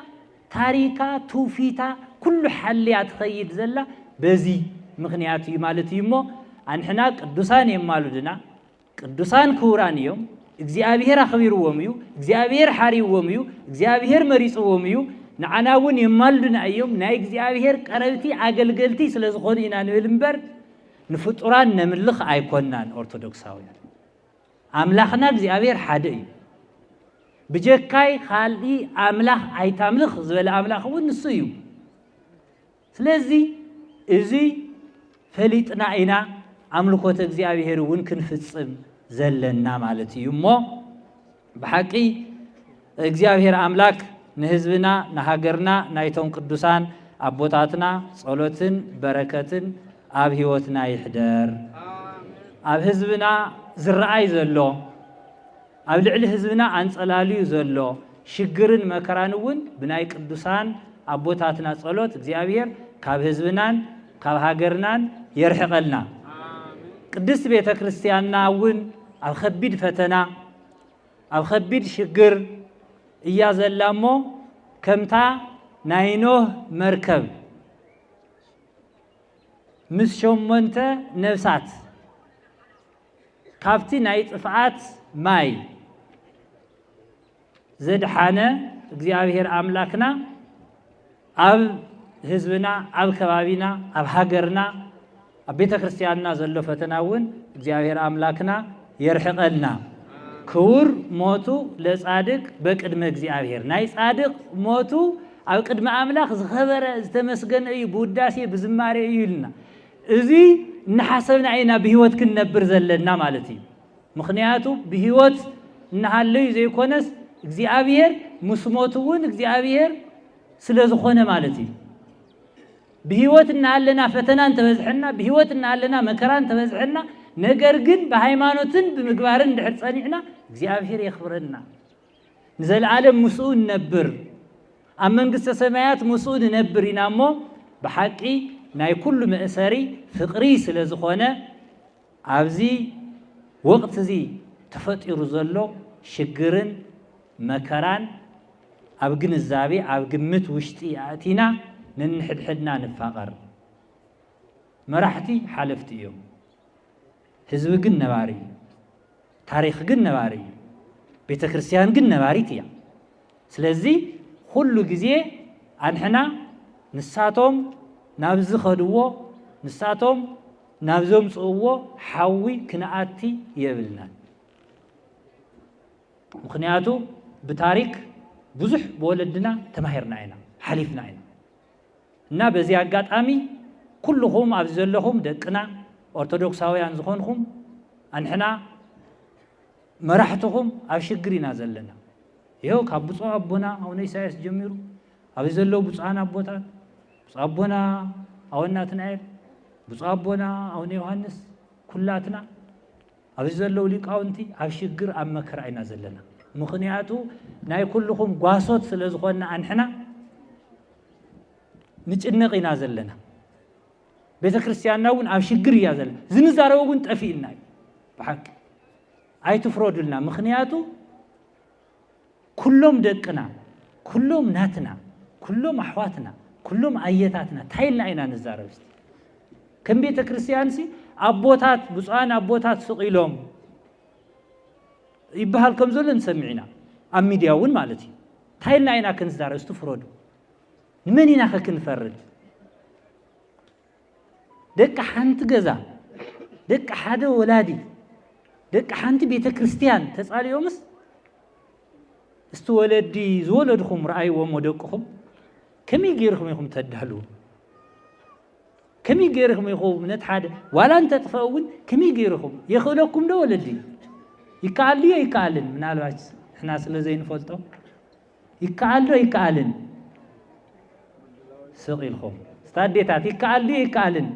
Speaker 1: ታሪካ ትውፊታ ኩሉ ሓልያ ትኸይድ ዘላ በዚ ምክንያት እዩ ማለት እዩ እሞ ኣንሕና ቅዱሳን የማሉድና ቅዱሳን ክቡራን እዮም። እግዚኣብሔር ኣኽቢርዎም እዩ። እግዚኣብሔር ሓሪዎም እዩ። እግዚኣብሔር መሪፅዎም እዩ። ንዓና እውን የማልዱና እዮም። ናይ እግዚኣብሔር ቀረብቲ ኣገልገልቲ ስለ ዝኾኑ ኢና ንብል እምበር ንፍጡራን ነምልኽ ኣይኮናን ኦርቶዶክሳውያን። ኣምላኽና እግዚኣብሔር ሓደ እዩ። ብጀካይ ካልእ ኣምላኽ ኣይታምልኽ ዝበለ ኣምላኽ እውን ንሱ እዩ። ስለዚ እዚ ፈሊጥና ኢና ኣምልኮተ እግዚኣብሔር እውን ክንፍፅም ዘለና ማለት እዩ እሞ ብሓቂ እግዚኣብሔር ኣምላክ ንህዝብና ንሃገርና ናይቶም ቅዱሳን ኣቦታትና ጸሎትን በረከትን ኣብ ህይወትና ይሕደር ኣብ ህዝብና ዝረኣይ ዘሎ ኣብ ልዕሊ ህዝብና ኣንጸላልዩ ዘሎ ሽግርን መከራን እውን ብናይ ቅዱሳን ኣቦታትና ጸሎት እግዚኣብሔር ካብ ህዝብናን ካብ ሃገርናን የርሕቐልና። ቅድስት ቤተ ክርስቲያንና እውን ኣብ ከቢድ ፈተና ኣብ ከቢድ ሽግር እያ ዘላ እሞ ከምታ ናይ ኖህ መርከብ ምስ ሸሞንተ ነፍሳት ካብቲ ናይ ጥፍኣት ማይ ዘድሓነ እግዚኣብሔር ኣምላክና ኣብ ህዝብና ኣብ ከባቢና ኣብ ሃገርና ኣብ ቤተ ክርስቲያንና ዘሎ ፈተና እውን እግዚኣብሔር ኣምላክና የርሕቐልና ክቡር ሞቱ ለጻድቅ በቅድመ እግዚኣብሔር ናይ ጻድቅ ሞቱ ኣብ ቅድሚ ኣምላኽ ዝኸበረ ዝተመስገነ እዩ ብውዳሴ ብዝማሬ እዩ ኢልና እዚ እናሓሰብና ኢና ብህይወት ክንነብር ዘለና ማለት እዩ። ምክንያቱ ብህይወት እናሃለዩ ዘይኮነስ እግዚኣብሔር ምስ ሞት እውን እግዚኣብሔር ስለ ዝኾነ ማለት እዩ። ብህይወት እናሃለና ፈተና እንተበዝሐና፣ ብህይወት እናሃለና መከራ እንተበዝሐና፣ ነገር ግን ብሃይማኖትን ብምግባርን እንድሕር ጸኒዕና እግዚኣብሔር የኽብረና። ንዘለዓለም ምስኡ ንነብር ኣብ መንግስተ ሰማያት ምስኡ ንነብር ኢና እሞ ብሓቂ ናይ ኩሉ መእሰሪ ፍቕሪ ስለ ዝኾነ ኣብዚ ወቕቲ እዚ ተፈጢሩ ዘሎ ሽግርን መከራን ኣብ ግንዛቤ ኣብ ግምት ውሽጢ ኣእቲና ነንሕድሕድና ንፋቐር። መራሕቲ ሓለፍቲ እዮም። ህዝቢ ግን ነባሪ እዩ። ታሪኽ ግን ነባሪ እዩ። ቤተ ክርስቲያን ግን ነባሪት እያ። ስለዚ ኩሉ ግዜ ኣንሕና ንሳቶም ናብ ዝኸድዎ ንሳቶም ናብ ዘምፅእዎ ሓዊ ክንኣቲ የብልናን። ምክንያቱ ብታሪክ ብዙሕ ብወለድና ተማሂርና ኢና ሓሊፍና ኢና። እና በዚ ኣጋጣሚ ኩሉኹም ኣብዚ ዘለኹም ደቅና ኦርቶዶክሳውያን ዝኾንኹም ኣንሕና መራሕትኹም ኣብ ሽግር ኢና ዘለና ይኸው ካብ ብፁዕ ኣቦና ኣቡነ ኢሳያስ ጀሚሩ ኣብዚ ዘለዉ ብፁዓን ኣቦታት ብፁዕ ኣቦና ኣወናትናኤል ብፁዕ ኣቦና ኣቡነ ዮሃንስ ኩላትና ኣብዚ ዘለዉ ሊቃውንቲ ኣብ ሽግር ኣብ መከራ ኢና ዘለና ምኽንያቱ ናይ ኩልኹም ጓሶት ስለ ዝኾንና ኣንሕና ንጭነቕ ኢና ዘለና ቤተ ክርስቲያንና እውን ኣብ ሽግር እያ ዘለና ዝንዛረበ እውን ጠፊእና እዩ ብሓቂ ኣይትፍረዱልና ምክንያቱ ኩሎም ደቅና ኩሎም ናትና ኩሎም ኣሕዋትና ኩሎም ኣየታትና እንታይ ኢልና ኢና ንዛረብ እስቲ ከም ቤተ ክርስቲያንሲ ኣቦታት ብፁዓን ኣቦታት ስቕ ኢሎም ይበሃል ከም ዘሎ ንሰምዕ ኢና ኣብ ሚድያ እውን ማለት እዩ እንታይ ኢልና ኢና ክንዛረብ እስቲ ፍረዱ ንመን ኢና ኸ ክንፈርድ ደቂ ሓንቲ ገዛ፣ ደቂ ሓደ ወላዲ፣ ደቂ ሓንቲ ቤተ ክርስቲያን ተጻልዮምስ እስቲ ወለዲ ዝወለድኹም ረኣይዎም ወደቅኹም ከመይ ገይርኹም ኢኹም ተዳልዉ ከመይ ገይርኹም ኢኹም ነቲ ሓደ ዋላ እንተጥፈአ እውን ከመይ ገይርኹም የኽእለኩም ዶ ወለዲ ይከኣል ድዮ ይከኣልን ምናልባች ንሕና ስለ ዘይንፈልጦ ይከኣል ዶ ኣይከኣልን? ስቕ ኢልኩም እስታ ኣዴታት ይከኣል ድዩ ኣይከኣልን?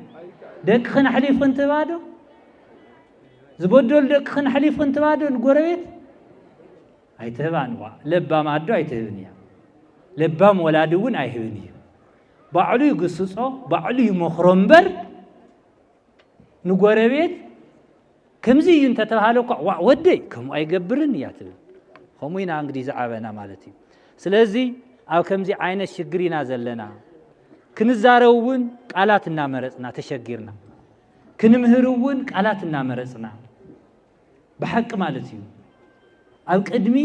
Speaker 1: ደቅኽን ኣሕሊፍኽን ትህባ ዶ? ዝበደሉ ደቅኽን ኣሕሊፍኽን ትህባ ዶ ንጎረቤት? ኣይትህባን እዋ ለባም ኣዶ ኣይትህብን እያ ለባም ወላዲ እውን ኣይህብን እዩ ባዕሉ ይግስጾ ባዕሉ ይመኽሮ እምበር ንጎረቤት ከምዚ እዩ እንተተባሃለ እኳ ዋዕ ወደይ ከምኡ ኣይገብርን እያ ትብል ከምኡ ኢና እንግዲህ ዝዓበና ማለት እዩ ስለዚ ኣብ ከምዚ ዓይነት ሽግር ኢና ዘለና ክንዛረብ እውን ቃላት እናመረፅና ተሸጊርና ክንምህር እውን ቃላት እናመረፅና ብሓቂ ማለት እዩ ኣብ ቅድሚ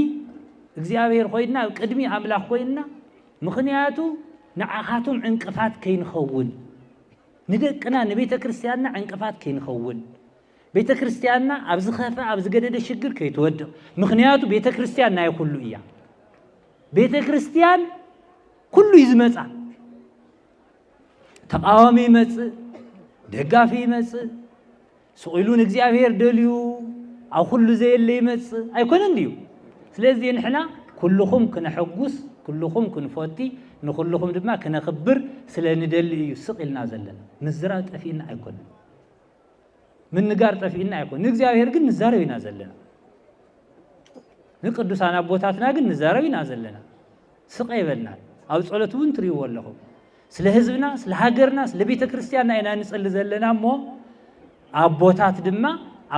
Speaker 1: እግዚኣብሔር ኮይንና ኣብ ቅድሚ ኣምላኽ ኮይንና ምኽንያቱ ንዓኻቶም ዕንቅፋት ከይንኸውን ንደቅና ንቤተ ክርስቲያንና ዕንቅፋት ከይንኸውን ቤተ ክርስቲያንና ኣብ ዝኸፈ ኣብ ዝገደደ ሽግር ከይትወድቕ ምክንያቱ ቤተ ክርስቲያን ናይ ኩሉ እያ ቤተ ክርስቲያን ኩሉ እዩ ዝመፃ ተቃዋሚ ይመፅእ ደጋፊ ይመፅእ ስቕ ኢሉ ንእግዚኣብሔር ደልዩ ኣብ ኩሉ ዘየለ ይመጽእ ኣይኮነን ድዩ? ስለዚ ንሕና ኩልኹም ክነሐጉስ፣ ኩልኹም ክንፎቲ፣ ንኹልኹም ድማ ክነኽብር ስለ ንደሊ እዩ ስቕ ኢልና ዘለና። ምዝራብ ጠፊእና ኣይኮነን፣ ምንጋር ጠፊእና ኣይኮነን። ንእግዚኣብሔር ግን ንዛረብ ኢና ዘለና፣ ንቅዱሳን ኣቦታትና ግን ንዛረብ ኢና ዘለና። ስቐ ይበልና ኣብ ጸሎት እውን ትሪእዎ ኣለኹም። ስለ ህዝብና ስለ ሃገርና ስለ ቤተ ክርስቲያንና ኢና ንጸሊ ዘለና እሞ ኣቦታት ድማ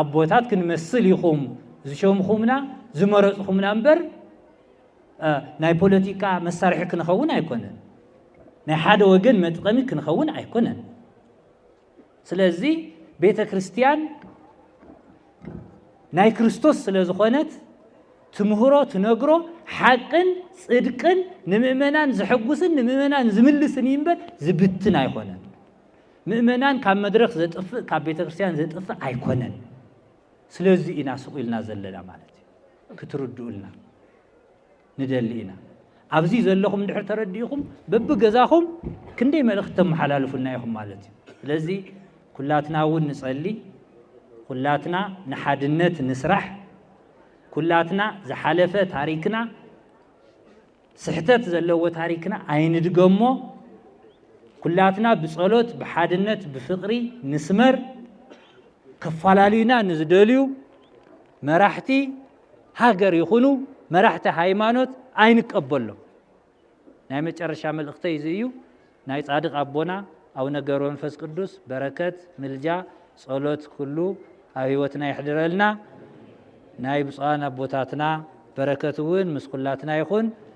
Speaker 1: ኣቦታት ክንመስል ኢኹም ዝሸምኹምና ዝመረጽኹምና እምበር ናይ ፖለቲካ መሳርሒ ክንኸውን ኣይኮነን ናይ ሓደ ወገን መጥቀሚ ክንኸውን ኣይኮነን ስለዚ ቤተ ክርስቲያን ናይ ክርስቶስ ስለ ዝኾነት ትምህሮ ትነግሮ ሓቅን ጽድቅን ንምእመናን ዝሕጉስን ንምእመናን ዝምልስን እዩ እምበር ዝብትን ኣይኮነን። ምእመናን ካብ መድረኽ ዘጥፍእ ካብ ቤተ ክርስቲያን ዘጥፍእ ኣይኮነን። ስለዚ ኢና ስቑ ኢልና ዘለና ማለት እዩ ክትርድኡልና ንደሊ ኢና። ኣብዚ ዘለኹም እንድሕር ተረዲእኹም በብገዛኹም ክንደይ መልእኽቲ ተመሓላልፉና ኢኹም ማለት እዩ። ስለዚ ኩላትና እውን ንጸሊ፣ ኩላትና ንሓድነት ንስራሕ፣ ኩላትና ዝሓለፈ ታሪክና ስሕተት ዘለዎ ታሪክና ኣይንድገሞ፣ ኩላትና ብጸሎት ብሓድነት ብፍቕሪ ንስመር፣ ከፈላለዩና ንዝደልዩ መራሕቲ ሃገር ይኹኑ መራሕቲ ሃይማኖት ኣይንቀበሎም። ናይ መጨረሻ መልእኽተይ እዚ እዩ። ናይ ጻድቅ ኣቦና ኣቡነ ገብረ መንፈስ ቅዱስ በረከት፣ ምልጃ፣ ጸሎት ኩሉ ኣብ ህይወትና ይሕድረልና። ናይ ብፁዓን ኣቦታትና በረከት እውን ምስ ኩላትና ይኹን።